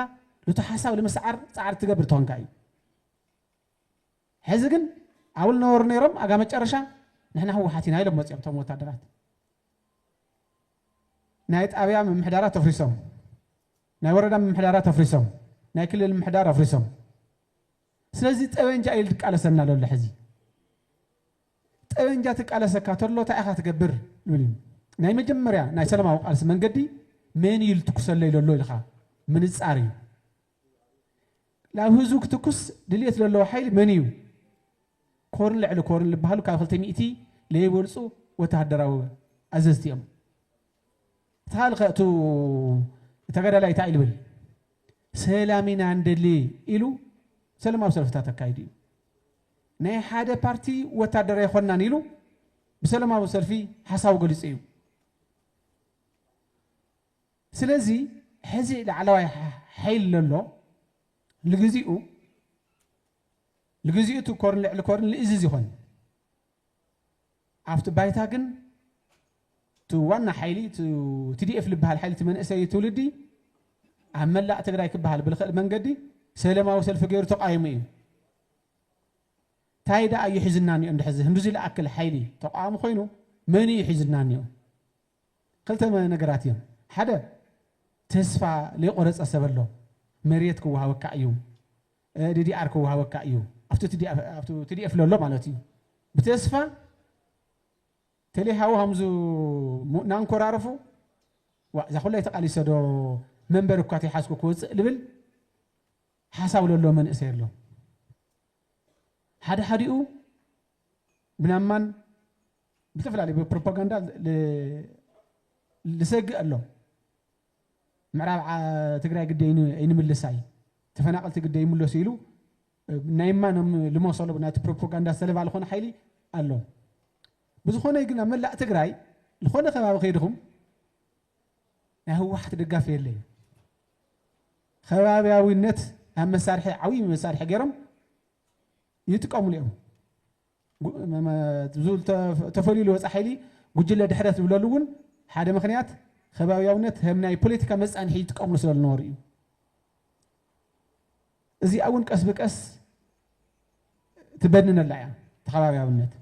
ኑቲ ሓሳብ ልምስዓር ጻዕሪ ትገብር ተኾንካ እዩ። ሕዚ ግን ኣውል ነበሩ ነይሮም ኣጋ መጨረሻ ንሕና ህወሓት ኢና ኢሎም መጺኦም እቶም ወታደራት ናይ ጣብያ ምምሕዳራት ተፍሪሶም ናይ ወረዳ ምምሕዳራት ኣፍሪሶም ናይ ክልል ምምሕዳር ኣፍሪሶም ስለዚ ጠበንጃ እዩ ልቃለሰና ለሎ ሕዚ ጠበንጃ ትቃለሰካ ተሎ እንታይ ኢኻ ትገብር ንብል ናይ መጀመርያ ናይ ሰላማዊ ቃልሲ መንገዲ መን እዩ ልትኩሰለይ ለሎ ኢልኻ ምንጻር እዩ ላብ ህዝቡ ክትኩስ ድልየት ዘለዎ ሓይሊ መን እዩ ኮርን ልዕሊ ኮርን ዝበሃሉ ካብ ክልተ ሚእቲ ለይበልፁ ወተሃደራዊ ኣዘዝቲ እዮም እቲ ካልእ ከ እቱ ተጋዳላይ እታይ ልብል ሰላም ኢና ንደሊ ኢሉ ሰለማዊ ሰልፍታት ኣካይዱ እዩ ናይ ሓደ ፓርቲ ወታደር ኣይኮናን ኢሉ ብሰለማዊ ሰልፊ ሓሳቡ ገሊፁ እዩ ስለዚ ሕዚ ላዕለዋይ ሓይል ለሎ ልግዚኡ ልግዚኡ እቲ ኮርን ልዕሊ ኮርን ልእዝዝ ይኾን ኣብቲ ባይታ ግን እቲ ዋና ሓይሊ ቲዲኤፍ ልበሃል ሓይሊ እቲ መንእሰይ ትውልዲ ኣብ መላእ ትግራይ ክበሃል ብልኽእል መንገዲ ሰለማዊ ሰልፊ ገይሩ ተቋይሙ እዩ። ታይ ደኣ እዩ ሒዝና እኒኦ እንድሕር ህንዱዚ ልኣክል ሓይሊ ተቋዋሚ ኮይኑ መን እዩ ሒዝና እኒኦ? ክልተ ነገራት እዮም። ሓደ ተስፋ ለይቆረፀ ሰብ ኣሎ መሬት ክወሃበካ እዩ ዲዲኣር ክወሃበካ እዩ ኣብቲ ቲዲኤፍ ለሎ ማለት እዩ ብተስፋ ተሌ ሃው ሃምዙ ናንኮራርፉ ዋ እዛ ኩላይ ተቃሊሰ ዶ መንበር እኳ ተይሓዝኩ ክወፅእ ልብል ሓሳብ ለሎ መንእሰይ ኣሎ ሓደ ሓዲኡ ብናማን ብዝተፈላለዩ ብፕሮፓጋንዳ ልሰግእ ኣሎ ምዕራብ ትግራይ ግዲ ኣይንምልሳይ ተፈናቀልቲ ግዲ ኣይምለሱ ኢሉ ናይ እማ ኖም ልሞሰሎ ብናቲ ፕሮፖጋንዳ ዝተለባ ልኾነ ሓይሊ ኣሎ ብዝኾነ ግን ኣብ መላእ ትግራይ ልኾነ ከባቢ ከይድኹም ናይ ህወሓት ደጋፊ የለ እዩ ከባቢያዊነት ኣብ መሳርሒ ዓብይ መሳርሒ ገይሮም ይጥቀሙሉ እዮም ዝብል ተፈልዩ ዝወፀ ሓይሊ ጉጅለ ድሕረት ዝብለሉ እውን ሓደ ምክንያት ከባቢያውነት ከም ናይ ፖለቲካ መፃንሒ ይጥቀምሉ ስለዝነበሩ እዩ። እዚኣ እውን ቀስ ብቀስ ትበድነላ እያ ተኸባቢያውነት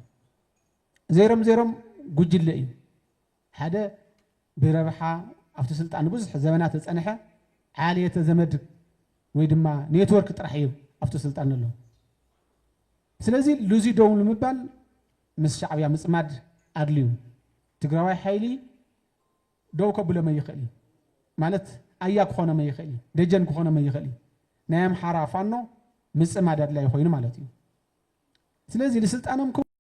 ዜሮም ዜሮም ጉጅለ እዩ። ሓደ ብረብሓ ኣብቲ ስልጣን ንብዙሕ ዘበናት ዝጸንሐ ዓሌተ ዘመድ ወይ ድማ ኔትወርክ ጥራሕ እዩ ኣብቲ ስልጣን ዘሎ። ስለዚ ሉዚ ደው ንምባል ምስ ሻዕብያ ምጽማድ ኣድልዩ ትግራዋይ ሓይሊ ደው ከብሎ መን ይኽእል እዩ ማለት ኣያ ክኾኖ መን ይኽእል እዩ ደጀን ክኾኖ መን ይኽእል እዩ ናይ ኣምሓራ ፋኖ ምጽማድ ኣድላይ ኮይኑ ማለት እዩ። ስለዚ ንስልጣኖም